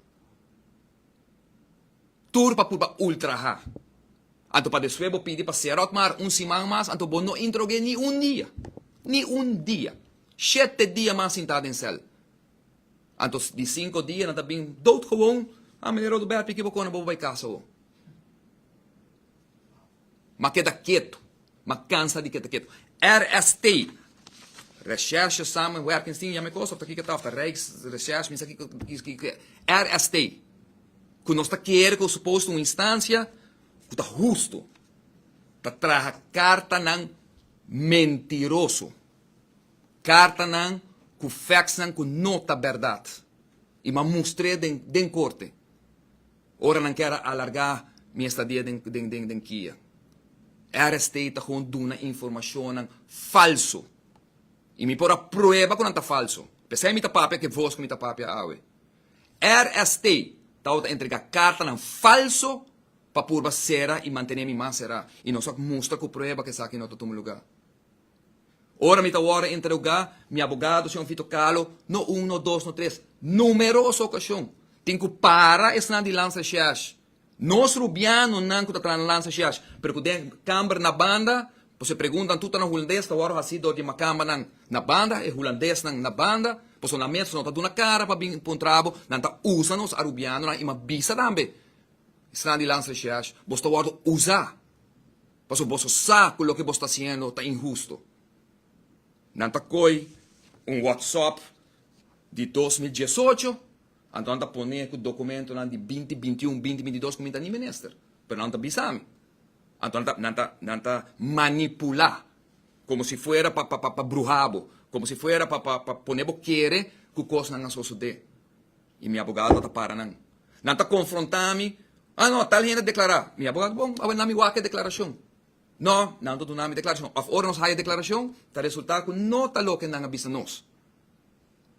tur pa purba ultra ha. Anto pa deswe bo pidi pa serot mar un siman mas anto bo no intro ge ni un dia. Ni un dia. Shete dia mas sinta den cel. Anto di sinko dia nan ta bin dood gewoon, ha meneer Rodoberto i ki bo kona bo bai casa awo. M'a keda ketu. M'a kansa di keda ketu. RST. Recherche Samenwerking Team yama e kos of ta kiko ta of ta Rijksrecherche misa kiko kiko RST ku nos ta kere ku supos ta un instansia ku ta hustu ta traha kartanan mentiroso kartanan ku factsnan ku no ta bèrdat i m'a mustre den korte. Ora nan kier a alarga mi estadia den Kia, RST ta con duna informacionnan falso y mi por a prueba cu nan ta falso. P'esei mi ta papia cu e voz cu mi ta papia awe. RST tabata entrega cartanan falso pa purba cera y mantene mi mas cera y nos a mustra cu prueba cu esaki no ta tuma lugar. Ora mi ta wòrdu interogá, mi abogado, señor Vito Kahlo, no un, no dos, no tres, numeroso okashon, tin ku para esnan di lansa shèsh. Nos rubianonan ku ta traha na lansa shèsh, pero ku den kamber na banda, pos e preguntanan tur ta na hulandes, ta wòrdu hasí dor di makambanan na banda, e hulandesnan na banda, pos nan mes no ta duna kara pa bin puntra bo, nan ta usa nos arubianonan i mi a bisa tambe esnan di lansa shèsh, bos ta wòrdu usá. Paso boso sa cu loke bos ta haciendo ta inhusto. Nan ta coy un WhatsApp di dos mil diesocho, anto nan ta pone cu documentonan di binti bintiun, binti bintidos cu mi ta ni menester, pero nan no ta bisa mi. Anto nan ta, nan ta, nan ta manipula como si fuera pa, pa, pa bruha bo, como si fuera pa, pa, pa pone bo kere cu cosnan a sosode. I mi abogado no ta para nan. Nan ta konfrontá mi, Ah, no, tal hende a deklará. Mi abogado, Bon, awe nan mi wak e deklarashon. No, nan no ta duna mi deklarashon. Òf ora nos haya e deklarashon, ta resultá ku no ta loke nan a bisa nos.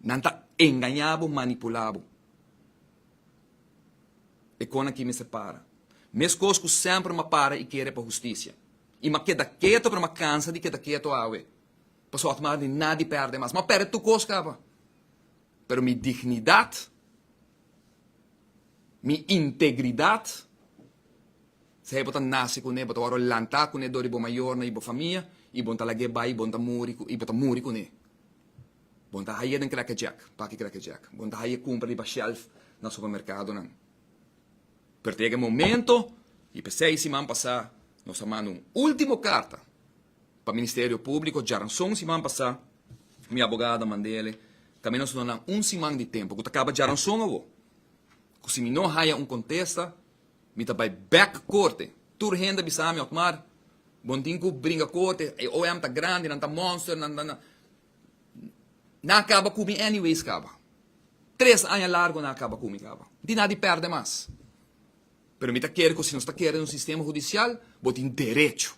Nan ta engañá bo, manipulá bo. E kon akí mester para. Meskos ku semper mi a para i kere pa hustisia. I mi a keda ketu, pero mi a kansa di keda ketu awe. Pasó mi a haña di nada di pèrdè mas. Mi a pèrdè tur kos kaba. Pero mi dignidad, mi integridad, sa e bo ta nace cune, bo ta wòrdu lanta cune dor di bo mayornan y bo famia y bon ta lagu'e bai y bon ta muri y bo ta muri cune. Bon ta haye den cracker jack, paki cracker jack, bon ta haye cumpra riba shelf na supermercadonan. Pero ta yega e momento y p'esey siman pasá nos a manda un ultimo carta. Pa Ministerio Públiko djaranson siman pasá mi abogada mand'ele tambe nos lo nan un siman di tempu ku ta kaba djaranson awo ku si mi no haya un kontesta mi ta bai bèk korte. Tur hende a bisa mi, Otmar, bo no tin ku bringa korte, e OM ta grandi, nan ta monster, nan ta nan. Nan a kaba ku mi anyways kaba. Tres aña largu nan a kaba ku mi kaba. No tin nada di pèrdè mas. Pero mi ta kere ku si nos ta kere un sistema hudisial bo tin derecho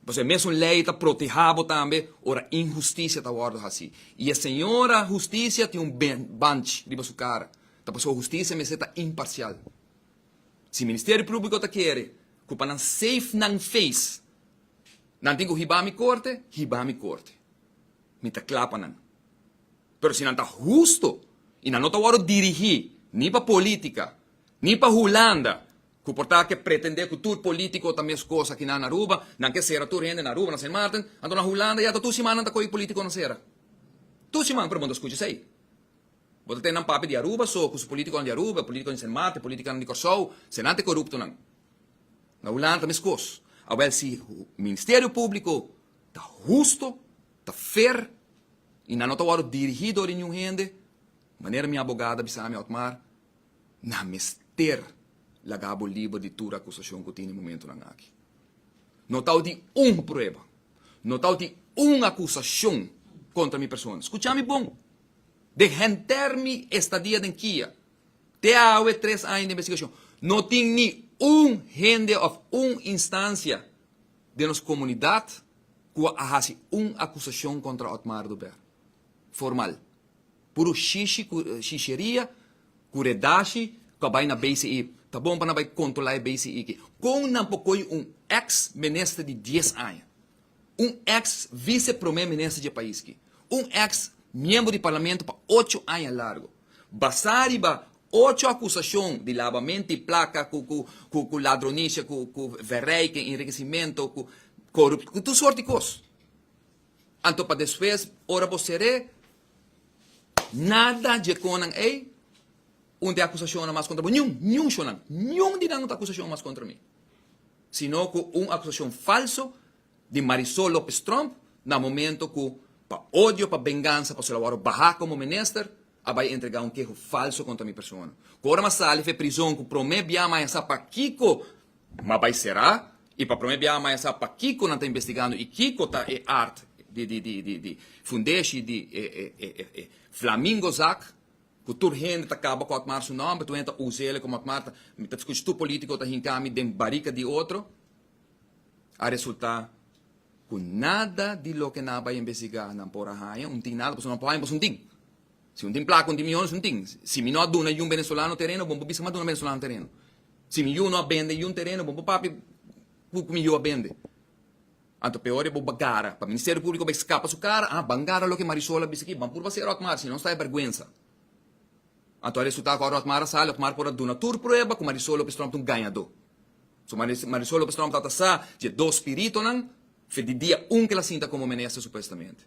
Pasobra e mesun lei ta protehá bo tambe ora inhustisia ta wòrdu hasí. I e Señora Hustisia tin un banch riba su kara, ta pasobra hustisia mester ta imparsial. Si Ministerio Públiko ta kere ku pa nan save nan feis nan tin ku hiba mi korte, hiba mi korte. Mi ta kla pa nan. Pero si nan ta hustu i nan no ta wòrdu dirigí ni pa polítika ni pa Hulanda Cu por ta ke pretende cu tur politico ta mes cos aki nan na Aruba, nan ke cera tur hende na Aruba, na Sint Maarten, anto na Hulanda ya ta tur siman nan ta coge politiconan cera. Tur siman, pero bo no ta scucha esey. Bo ta tene nan papi di Aruba so, cu su politiconan di Aruba, politiconan di Sint Maarten, politiconan di Corsou, senan ta e coruptonan. Na Hulanda ta mes cos. Awel si Ministerio Publico ta husto, ta fair y nan no ta worde dirigi dor di niun hende, manera mi abogada bisa mi, Otmar, Nan mester laga bo liber di tur akusashon ku tin e momentunan aki. No tau di un prueba, no tau di un akusashon kontra mi persona. Skuchá mi bon! Den henter mi estadia den kia, te awe tres aña di investigashon, no tin ni un hende òf un instansia den nos komunidat ku a hasi un akusashon kontra Otmar Dubert, formal. Puru shishi ku shisheria ku redashi ku a bai na BCI. Ta bon pa nan bai kontrolá e BCI ki. Kon nan por koi un eks minister di dies aña, un eks vice promé minister dje pais ki, un eks miembro di parlamento pa ocho aña largu, basá riba ocho akusashon di labamento di plaka ku ku ku ladronisha ku ku verrijking, enriquecimento ku korup ku tur sort di kos? Anto pa despues ora bo ser'é. Nada dje conan ey un te acusacionnan mas contra bo, niun, niun shonan, niun di nan un ta acusacion mas contra mi, sino cu un acusacion falso di Marisol Lopez Trump na momento cu pa odio, pa bengansa, pasobra wou a baha como minister a bay entrega un keho falso contra mi persona, cu ora mi a sali fe prizon cu prome biaha mi a yasa pakico Ma bai será i pa prome biaha maya sa pakiko nan ta investigando i kiko ta e aard di fundeshi di e Flamingo zak ku tur hende ta kaba ku Otmar su nòmber, tur hende ta usa ele komo Otmar ta, mi ta skucha tur polítiko ta hinka mi den barika di otro, a resultá ku nada di loke nan a bai investigá nan por a haña un tin nada pasobra nan por haña pasobra un tin. Si un tin placa un tin mions un tin. Si mi no a duna yun venezolano tereno bon bo bisa mi a duna venezolano tereno. Si mi yu no a bende yun tereno bon bo papia cu cu mi yu a bende. Anto peor di bo bagara pa Ministerio Publico bay scapa su cara ah ban gara loke Marisol a bisa aki ban purba hacer Otmar si no sta e berguenza. Anto a resulta cu ora Otmar a sali Otmar por a duna tur prueba cu Marisol Lopez Tromp ta un gañador. So Marisol Lopez Tromp tabata sa dje dos spiritonan fe di dia un cu el a sinta como mene a sa supuestamente.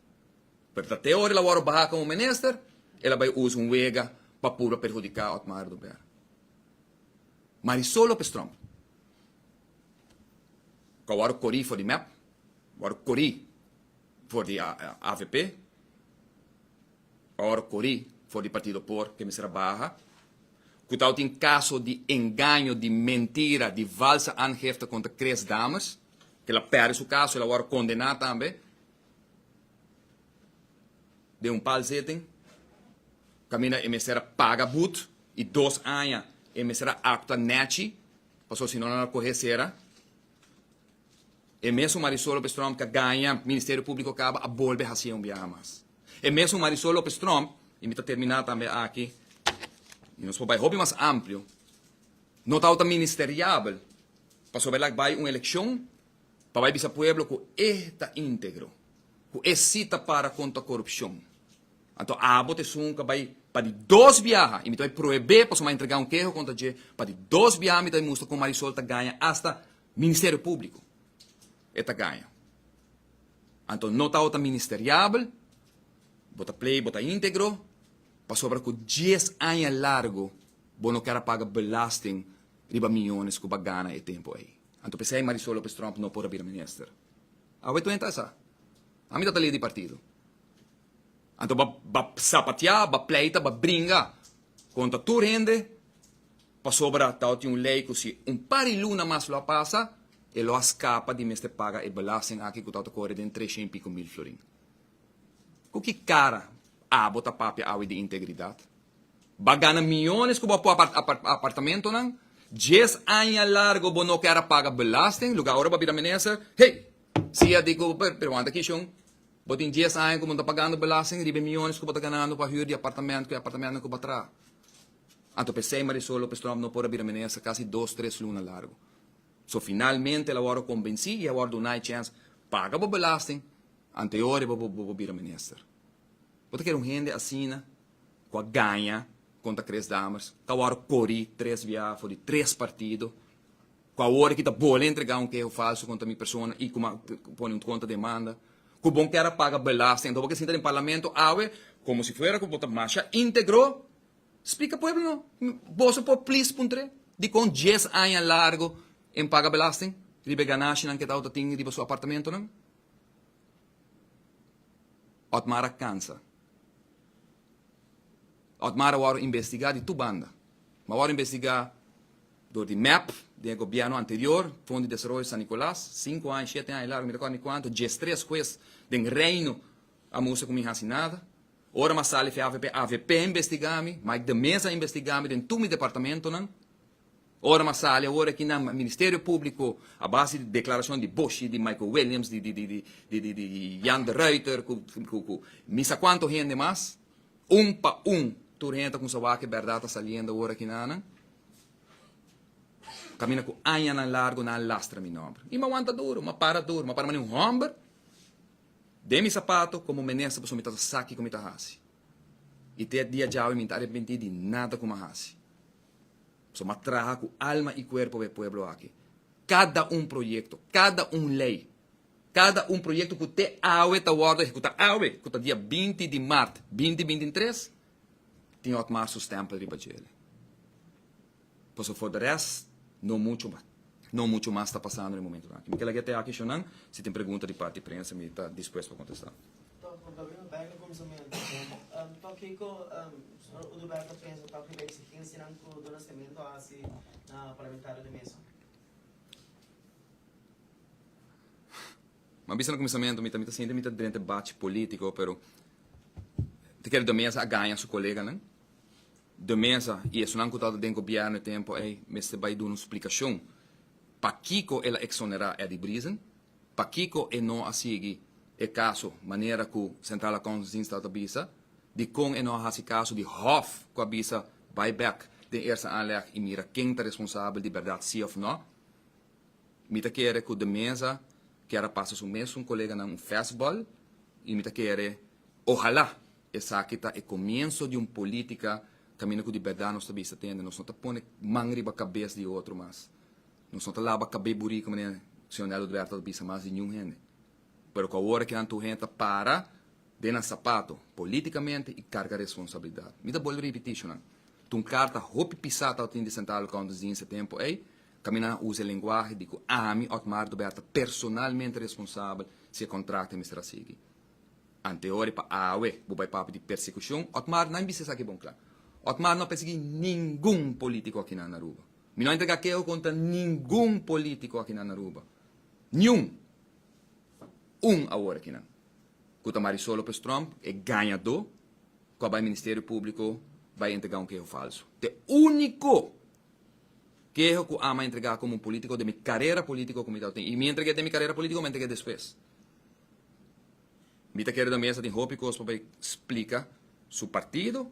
Pero ta te ora el a wòrdu baha komo minister, el a bai usa un wega pa purba perhudiká Otmar Dubera. Marisol Lopez Tromp ku a wòrdu korí for di mep, a wòrdu korí for di avp, a wòrdu korí for di partido por ke mester a baha, ku tawata tin kaso di engaño, di mentira, di valsa aangifte kontra Chris Dames, ku el a pèrdè su kaso, el a wòrdu kondená tambe. den un pal zeten, kaminda e mester a paga but i dos aña e mester a apta nèchi pasobra si no nan a kohe sera. E mesun Marisol Lopez-Tromp ka gaña Ministerio Públiko kaba a bolbe hasié un biaha mas. E mesun Marisol Lopez-Tromp, i mi ta terminá tambe aki, i nos por bai hopi mas amplio, no tabata ministeriabel pasobra el a bai un elekshon, pa bai bisa pueblo ku e ta integro, ku e si ta para kontra korupshon. Anto abo ta esun ka bai pa di dos biaha i mi ta bai prohebé pasobra mi a entregá un keho kontra dje, pa di dos biaha mi ta bai mustra kon Marisol ta gaña asta Ministerio Públiko e ta gaña. Anto no ta ota ministeriabel, bo ta plei bo ta integro pasobra ku dies aña largu bo no kèr a paga belasting riba miyones ku bo a gana e tempu ei. Anto pesey Marisol Lopez Tromp no por a bira minister. Awe tuenta esa. Ami ta ta lid di partido. Anto ba ba sapatia, ba pleita, ba bringa contra tur hende pasobra tao tin un ley cu si un par di luna mas lo a pasa e lo a scapa di mester paga e belasting aki cu tao ta core den trescienpico mil florin. Ku ki kara abo ta papia awe di integridat? Ba gana miyones ku bo a pua pa apartamentonan, dies aña largo bo no kera paga belasting, luga ora bo a bira minister, hey, sia di ku pero wanta aki shon, bo tin dies aña ku bo no ta pagando belasting riba e miyones ku bo ta ganando pa hür di apartamento, ku e apartamentonan ku bo a traha. Anto p'esei Marisol Lopez Tromp no por a bira minister kasi dos, tres luna largo. So finalmente el a wòrdu kombensí i a wòrdu duna e chèns paga bo belasting, Anteori bo por bira minister. Bo ta kere un hende asina cu a gaña contra Chris Dammers, cu awor a cori tres bia for di tres partido, cu awor aki ta bole entrega un keho falso contra mi persona y cu mi a pone un contra demanda, cu bon kier a paga belasting, enton bo kier sinta den Parlamento awe como si fuera cu bo ta masha integro. Splica pueblo no, boso por please puntre dicon dies aña largo en paga belasting riba e ganashinan cu e tawata tin riba su apartamentonan? Otmar a kansa. Otmar a wòrdu investigá di tur banda. Bo a wòrdu investigá dor di mep den e gobièrnu anterior, Fondo di Desaroyo San Nicolas, sinku aña, shete aña largu, mi ta kòrda mi kuantu, dies tres hues den Reino a mustra ku mi hasi nada. Ora mi a sali Feavp, avp a investigá mi, Mike de Meza a investigá mi den tur mi departamentonan. Ora m'a sali awor aki na Ministerio Publico a base di declaracion di Boshi, di Michael Williams, di di di di Jan de Ruiter cu cu cu mi sa cuanto hende mas, un pa un tur hende ta cuminsa wak cu e berdad ta saliendo awor aki na nan camina cu añanan largo nan a lastra mi nomber. Y m'a wanta duro, m'a para duro, m'a para mane un homber den mi sapato como minister pasobra mi ta sa ki cu mi ta haci. Y te e dia djawe mi no ta arepenti di nada cu m'a haci. Pasobra m'a traha ku alma i kuerpo pa e pueblo aki. Kada un proyekto, kada un lei, kada un proyekto ku te awe ta wòrdu ehekutá, awe ku ta dia binti di mart binti binti tres, tin Otmar su stèmpel riba djele. Pasobra for de rest, no muchu mas, no muchu mas ta pasando na e momentunan aki. Mi ke laga e te aki, Shunan, si tin pregunta di parti prensa mi ta dispuesto pa kontestá. a bisa na kuminsamentu mi ta mi ta sinti mi ta drenta e bachi politiko pero ta kere do mesa a gaña su koleganan do mesa i esunnan ku tabata den gobièrnu e tempu ei mester bai duna un splikashon pakiko el a eksonerá Eddy Brisen. Pakiko e no a sigui e kaso manera ku Centraal Accountantsdienst tal ta bisa? Dikon e no a hasi kaso di hòf ku a bisa bai bèk den Eerste Aanleg i mira ken ta responsabel di bèrdat si òf nò? Mi ta kere ku De Meza kier a pasa su mesun koleganan un fèstbòl i mi ta kere ohalá esaki ta e komienso di un polítika kaminda ku di bèrdat nos ta bisa tende nos no ta pone man riba kabes di otro mas. Nos no ta laba cabé burí cu manera Señor Nel Udberto ta bisa mas di niun hende. Pero cu awor aki anto hende ta para den nan sapato politicamente y carga responsabilidad. Mi ta bolbe ripití, Shunan, ta un carta hopi pisá tabatin di Santa Alba Counters di ese tempo ey, camina a uza e lenguahe di cu ami, Otmar Dubert, ta personalmente responsabel si e contract a mester a sigui. Anteori pa awe bo bay papia di persecucion, Otmar, nan bisa esaki bon cla. Otmar no a persegui ningun politico akinan na Aruba. Mi no a entrega keho kontra ningun polítiko akinan na Aruba, niun un awor akinan ku ta mari solo pues Trump, e gañadó ku a bai Ministerio Públiko bai entregá un keho falsu. T'e úniko keho ku ama entregá komo un polítiko den mi karera polítiko ku mi tabata tin, i mi entreg'é den mi karera polítiko o mi a entreg'é despues? Mi ta kere dor mesa tin hopi kos pa bai splika su partido,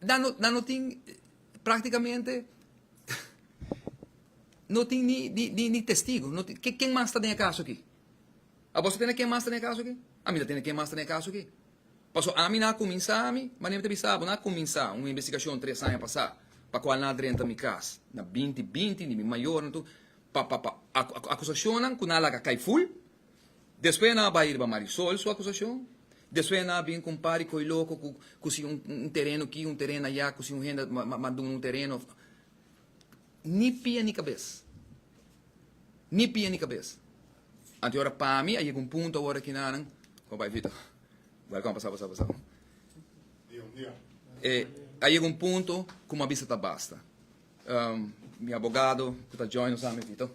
Dan no dan no tin practicamente no tin ni ni ni testigo no tin ken ken mas ta den e caso aki awoso tene ken mas ta den e caso aki ami ta tene ken mas ta den e caso aki paso ami na cuminsa mi manera mi ta bisa bo na cuminsa un investigacion tres aña pasa pa cual na drenta mi cas na binti binti ni mi mayornan tur pa pa pa acu acusacionnan cu na laga cay full Despues nan a bai riba Marisol su acusacion, despues nan a bin cu un par di coy loco cu cusi un tereno aki, un tereno aya, cusi un hende a duna un tereno, ni pia ni cabes, ni pia ni cabes. Anto y ora pa mi a yega un punto awor aki nan, como bai Vito, welcome, pasa, pasa, pasa, a yega un punto cu mi a bisa ta basta. Mi abogado cu ta join nos ami aki to.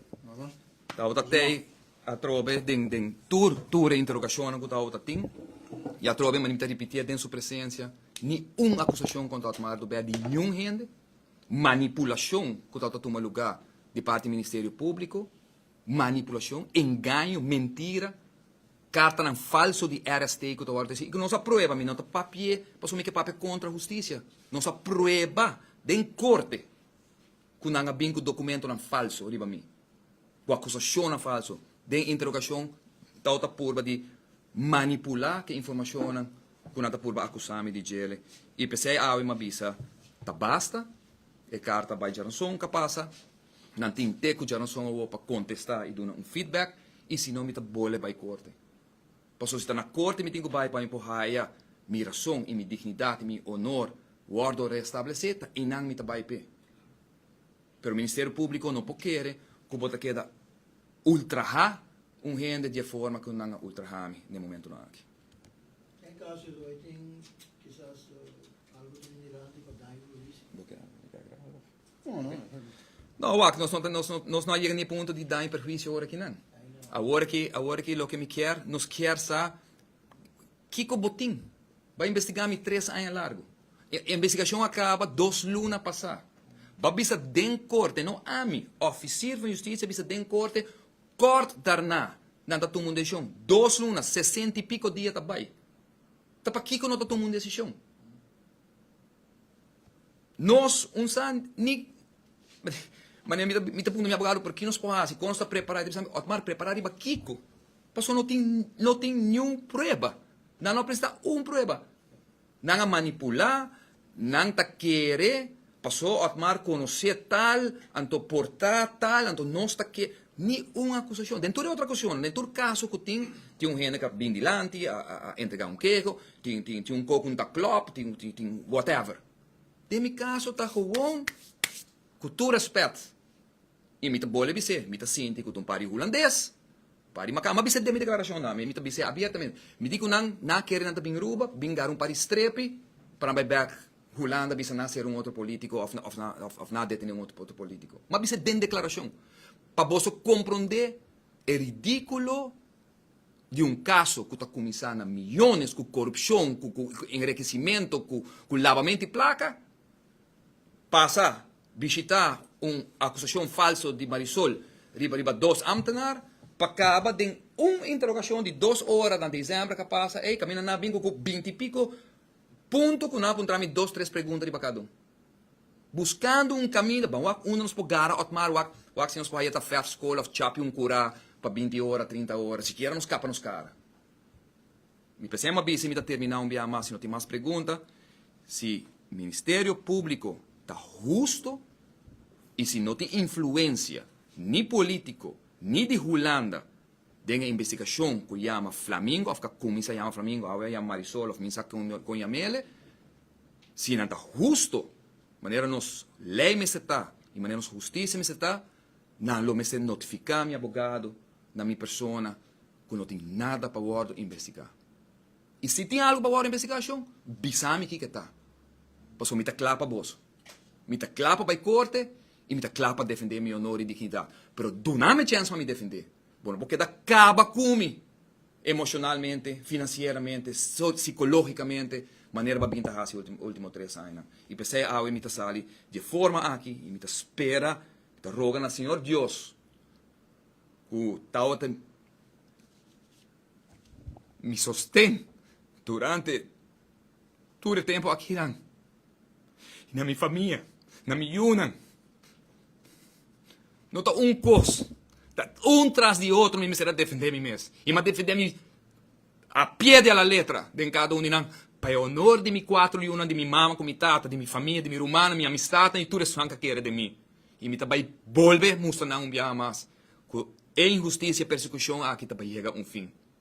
Tabata tey atrobe den den tur tur e interogacionnan cu tabata tin y atrobe mane mi ta ripitié den su presencia ni un acusacion contra Otmar do bea di niun hende, manipulacion cu tabata tuma luga di parti Ministerio Publico, manipulacion, engaño, mentira, Kartanan falso di RST ku ta wòrdu tesi i ku nos a prueba, mi no ta papia pasobra mi ke papia kontra hustisia. Nos a prueba den korte ku nan a bin ku dokumentonan falso riba mi, ku akusashonnan falso. Den interogashon Tau ta purba di manipulá ke informashonnan ku nan ta purba akusá mi di djele i p'esei awe mi a bisa ta basta, e karta bai djaransonka pasa. Nan tin te cu djanosong awo pa contesta y duna un feedback y sino mi ta bole bay corte. Paso si ta na corte mi tin cu bay pa mi por haya mi razon y mi dignidad y mi honor wordo reestablece ta eynan mi ta bay p'e. Pero Ministerio Publico no por kere cu bo ta keda ultraha un hende di e forma cu nan a ultraha mi n'e momentonan aki. En caso di Roy tin kisas algo di un migrante pa daño cu lo hici? No, wak, nos no ta, nos no, nos no a yega na e punto di daño i perhuicio ora akinan. Awor aki, awor aki loke mi kier, nos kier sa kiko bo tin. Ba investigá mi tres aña largu. E investigashon a kaba dos luna pasá. Ba bisa den korte, no ami, òfisir van Justisia bisa den korte kòrt darna nan ta tuma un desishon. Dos luna, sesenta i piko dia ta bai. Ta pakiko no ta tuma un desishon? Nos un sa ni mane mi ta puntra mi abogado pero ki nos por hasi con nos ta prepara ta bisa otmar prepara riba kiko pasobra no tin no tin niun prueba nan no a presenta un prueba nan a manipula nan ta kere pasobra otmar conoce tal anto por ta tal anto nos ta kere Ni un akusashon. Den tur e otro akusashonnan, den tur kaso ku tin, tin un hende ku a bin dilanti, a a entregá un keho, tin tin tin un kos ku no ta klòp, tin tin tin whatever. Den mi kaso ta gewoon, ku tur rèspèt, i mi ta bole bis'é, mi ta sinti ku ta un par di hulandes, un par di makán. Mi a bis'é den mi deklarashonnan, mi ta bis'é abiertamente. Mi di ku nan, nan a kere nan ta bin Aruba, bin gara un par di strepi, pa nan bai bèk. Hulanda bisa na ser un otro politico of na of of na detene un otro politico. M'a bisa den declaracion pa boso compronde e ridiculo di un caso cu ta cuminsa na millones cu corupcion cu cu enriquecimento cu cu labamento di placa pasa bishita un acusacion falso di Marisol riba riba dos ambtenaar pa caba den un interrogacion di dos ora na December ca pasa ey caminda na bin cu cu binti pico Punto cu nan a puntra mi dos tres pregunta riba cada un. Buscando un caminda, ban wak unda nos por gara Otmar wak, wak si nos por haya ta vef school of chapi un cura pa binti ora, trinta ora, sikiera nos capa nos cara. Mi p'esey m'ha bisa y mi ta termina un biaha mas si no tin mas pregunta, si Ministerio Publico ta husto y si no tin influencia ni politico ni di Hulanda Den e investigashon ku yama Flamingo, òf ka kuminsa yama Flamingo, awe a yama Marisol òf mi sa kon yam'ele, si nan ta hustu, manera nos lei mester ta i manera nos hustisia mester ta, nan lo mester notifiká mi abogado na mi persona ku no tin nada pa wòrdu investigá. I si tin algu pa wòrdu investigá, shon, bisa mi kiko e ta, pasobra mi ta kla pa boso. Mi ta kla pa bai korte i mi ta kla pa defendé mi onor i dignidat. Pero duna mi chèns pa mi defendé. Bo no por keda kaba ku mi emoshonalmente, finansieramente, sikológikamente, manera bo a bigin ta hasi e último tres añanan. I p'esei awe mi ta sali di e forma aki i mi ta spera, mi ta roga na Señor Dios ku ta wòrdu mi sosten durante. Tur e tempu akinan, i na mi famia, na mi yunan, no ta un kos, ta un tras di otro mi mester a defendé mi mes. I mi a defendé mi a pie de la letra den kada un di nan, pa e honor di mi kuater yunan, di mi mama ku mi tata, di mi famia, di mi rumannan, mi amistatnan i tur esnan ku a kere den mi. I mi ta bai bolbe mustra nan un biaha mas ku e inhustisia, persekushon aki ta bai yega un fin.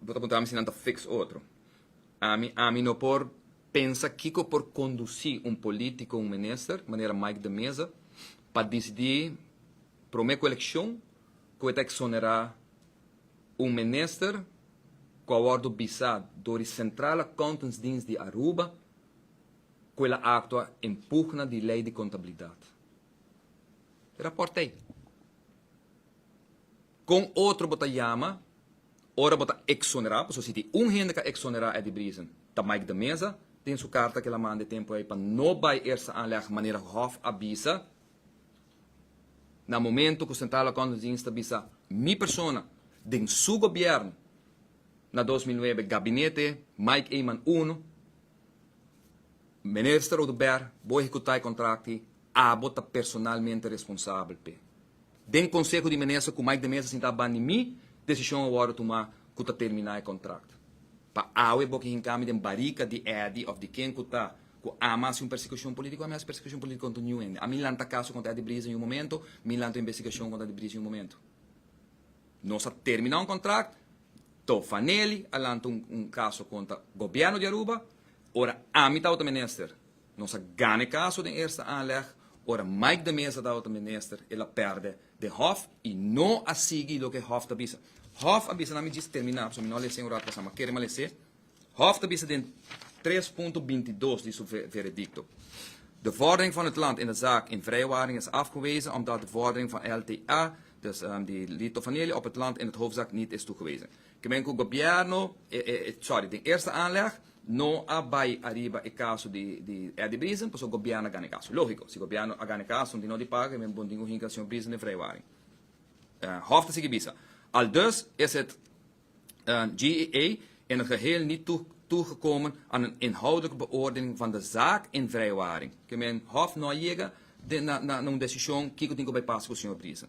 Bo ta puntra mi si nan ta fix otro. Ami ami no por pensa kiko por kondusi un polítiko, un minister, manera Mike de Meza, pa disidí promé ku elekshon ku e ta eksonerá un minister ku a wòrdu bisá dor di Central Accountantsdienst di Aruba ku el a aktua en pugna di lei di kontabilidat. E rapòrt t'ei. Kon otro bo ta yama ora bo ta eksonerá? Pasobra si tin un hende ka eksonerá Eddie Briezen ta Mike de Meza, den su karta ku el a manda e tempu ei pa no bai Eerste Aanleg manera Hof a bisa, na momentu ku Centraal Accountantsdienst a bisa mi persona den su gobièrnu na dos mil nuebe gabinete Mike Eman uno, Minister Oduber bo ehekutá e kontrakti, abo ta personalmente responsabel p'e. Den konseho di minister ku Mike de Meza sintá ban di mi, desishon a wòrdu tumá ku ta terminá e kontrakt. Pa awe bo ke hinkami den barika di Eddie òf di ken ku ta ku ama hasi un persekushon polítiko, a mi hasi persekushon polítiko kontra niun hende. A mi lanta kaso kontra Eddie Briza yun momento, mi lanta un investigashon kontra Eddie Briza yun momento. Nos a terminá un kontrakt, Tofa Nelly a lanta un kaso kontra gobièrnu di Aruba, ora ami tabata minister. Nos a gana e kaso den eerste aanleg. Ora Mike de Meza tabata minister el a perde den hof y no a sigui loke e hof ta bisa. Hof a bisa na mi djis termina pasobra mi no a lese un rato pas a ma kere ma lese. Hof ta bisa den tres punto bintidos di su veredicto. De vordering van het land in de zaak in vrije waring is afgewezen omdat de vordering van LTA, dus di Lito Vanele, op het land in het hoofdzaak niet is toegewezen. Kimen ku Gobièrnu e e sorry den Eerste Aanleg no a bai ariba e kaso di di Eddie Briezen pasobra Gobièrnu a gana e kaso. Lógiko, si Gobièrnu a gana e kaso, no tin nau di paga, kimen bon tin ku hinka señor Briezen den Vrijwaring. Hof ta sigui bisa, Aldus is het GEA in het geheel niet toegekomen aan een inhoudelijke beoordeling van de zaak in Vrijwaring. Kimen Hof no a yega den na na un desishon kiko tin ku bai pasa ku señor Briezen.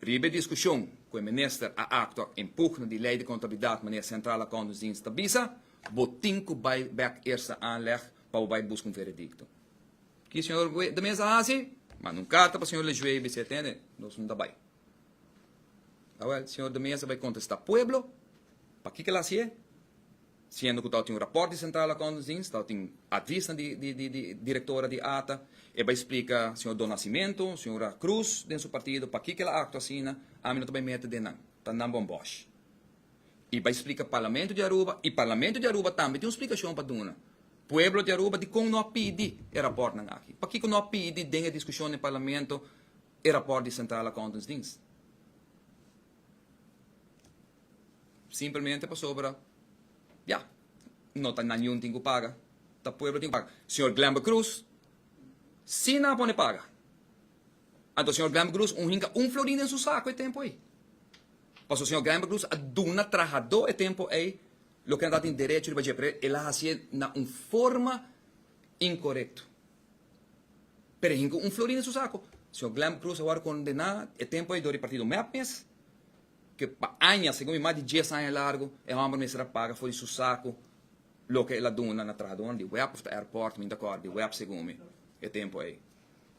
Riba e diskushon ku e minister a aktua en pugna di lei di kontabilidat manera Centraal Accountantsdienst ta bisa, bo tin ku bai bek Eerste Aanleg pa bo bai buska un veredikto. Ki señor Lejuee ta mester a hasi? Manda un karta pa señor Lejuee i bisa e atende, nos no ta bai. Awel, señor de Meza bai kontestá pueblo pakiko el a hasié. Siendo cu tao tin un raport di Centraal Accountantsdienst, tao tin advisnan di di directora di ata. E bai splica Señor Don Nascimento, Señora Cruz den su partido pakico el a actua asina, ami no ta bai mete den nan, ta nan bon bosh. E bai splica Parlamento di Aruba, y Parlamento di Aruba tambe tin un splicacion pa duna pueblo di Aruba dicon no a pidi e raportnan aki, pakico no a pidi den e discusion den Parlamento e raport di Centraal Accountantsdienst. Simplemente pasobra ya no ta nan yuntin cu paga ta pueblo tin cu paga señor Glember Cruz si nan a pone paga anto señor Glember Cruz un hinca un florin den su saco e tempo ey pasobra señor Glember Cruz a duna trahado e tempo ey loke nan tabatin derecho riba dje pero el a hacié na un forma incorecto pero e hinca un florin den su saco señor Glember Cruz a wor condena e tempo ey dor e partido mep mes ke pa aña, segun mi mas di dies aña largu, e hòmber mester a paga for di su saku loke el a duna na trahadónan di web òf ta airport, mi no ta kòrda, di web segun mi, e tempu ei.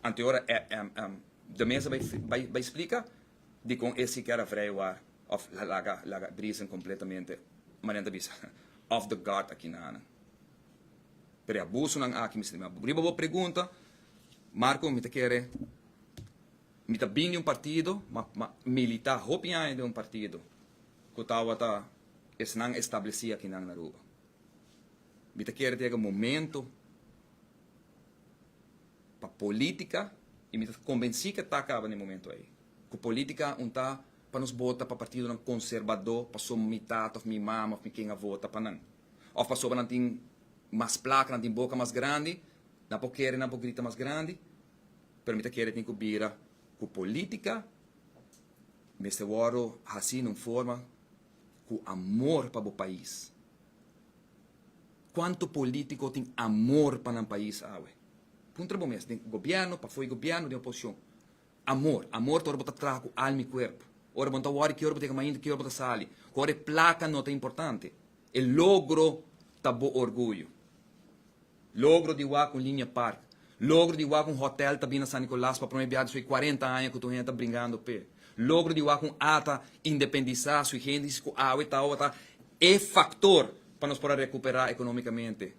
Anteora de mes a bai bai bai splika dikon e siker a vrei wòrd òf laga laga brisen kompletamente manera nan ta bisa off the guard aki na nan. Pero e abusonan aki mi sibi. Riba bo pregunta, Marco, mi ta kere. Mi ta bin di un partido, ma ma militá hopi aña den un partido ku tawata esnan establesí akinan na Aruba. Mi ta kere tega momento pa polítika i mi ta kombensí ke ta kaba na e momento ei, ku polítika un ta pa nos bota pa partidonan konserbadó pasobra mi tata òf mi mama òf mi ken a vota pa nan, òf pasobra nan tin mas plaka, nan tin boka mas grandi, nan por kere, nan por grita mas grandi. Pero mi ta kere tin ku bira ku polítika mester wòrdu hasi na un forma ku amor pa bo pais. Kuantu polítiko tin amor pa nan pais awe? Puntra bo mes, den gobièrnu, pafoi gobièrnu, den oposishon. Amor, amor ta ora bo ta traha ku alma i kuerpu, ora bo no ta wòri ki ora bo ta yega mainta, ki ora bo ta sali, ku ora e plaka no ta importante. E logro ta bo orguyo. Logro di wak un linea park. Logro di wak un hotel ta bin na San Nicolas pa prome bia di su e cuarenta aña cu tur hende ta bringando p'e. Logro di wak un a ta independisa su hende si cu awe tawata e factor pa nos por a recupera economicamente.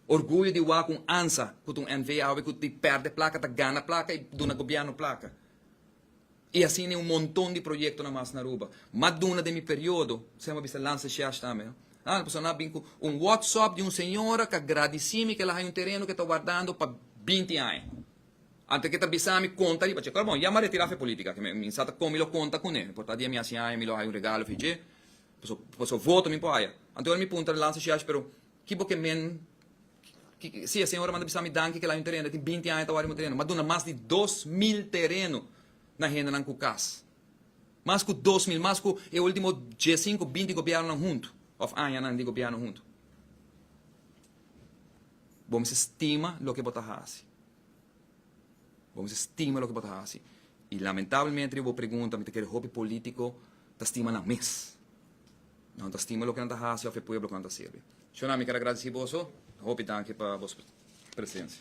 Orguyo di wak un ansa cu ta un NV awe cu di perde placa ta gana placa y duna gobierno placa. I a sini un monton di proyektonan mas na Aruba. Mat duna den mi periodo, sema a bisa Lance Siash tambe. Hala pasobra nan a bin ku un whatsop di un señora ku a gradisi mi ku el a haña un tereno ku e ta wardando pa binti aña. Antes ku e ta bisa mi konta riba dje, kor bon, ya mi a retirá fen polítika aki. Mi sa ta kon mi lo konta kuné. Mi por ta dia mi hasi aña mi lo haña un regalo fi dje. Pasobra voto mi por haya. Anto ora mi puntra Lance Siash, pero ki bo ke men. Si, e señora manda bisami danki kel año un tereno, e tin binti aña ta wòrdu un tereno. M'a duna mas di dos mil tereno na hendenan ku kas. Mas ku dos mil, mas ku e último dies sinku, binti gobièrnunan huntu òf añanan di gobièrnu huntu. Bo mester stima loke bo ta hasi. Bo mester stima loke bo ta hasi. I lamentablemente riba bo pregunta mi ta kere hopi politico ta stima nan mes. Nan ta stima loke nan ta hasi of e pueblo cu nan ta sirbi. Shona mi ker agradeci boso. Hopi danki pa boso presencia.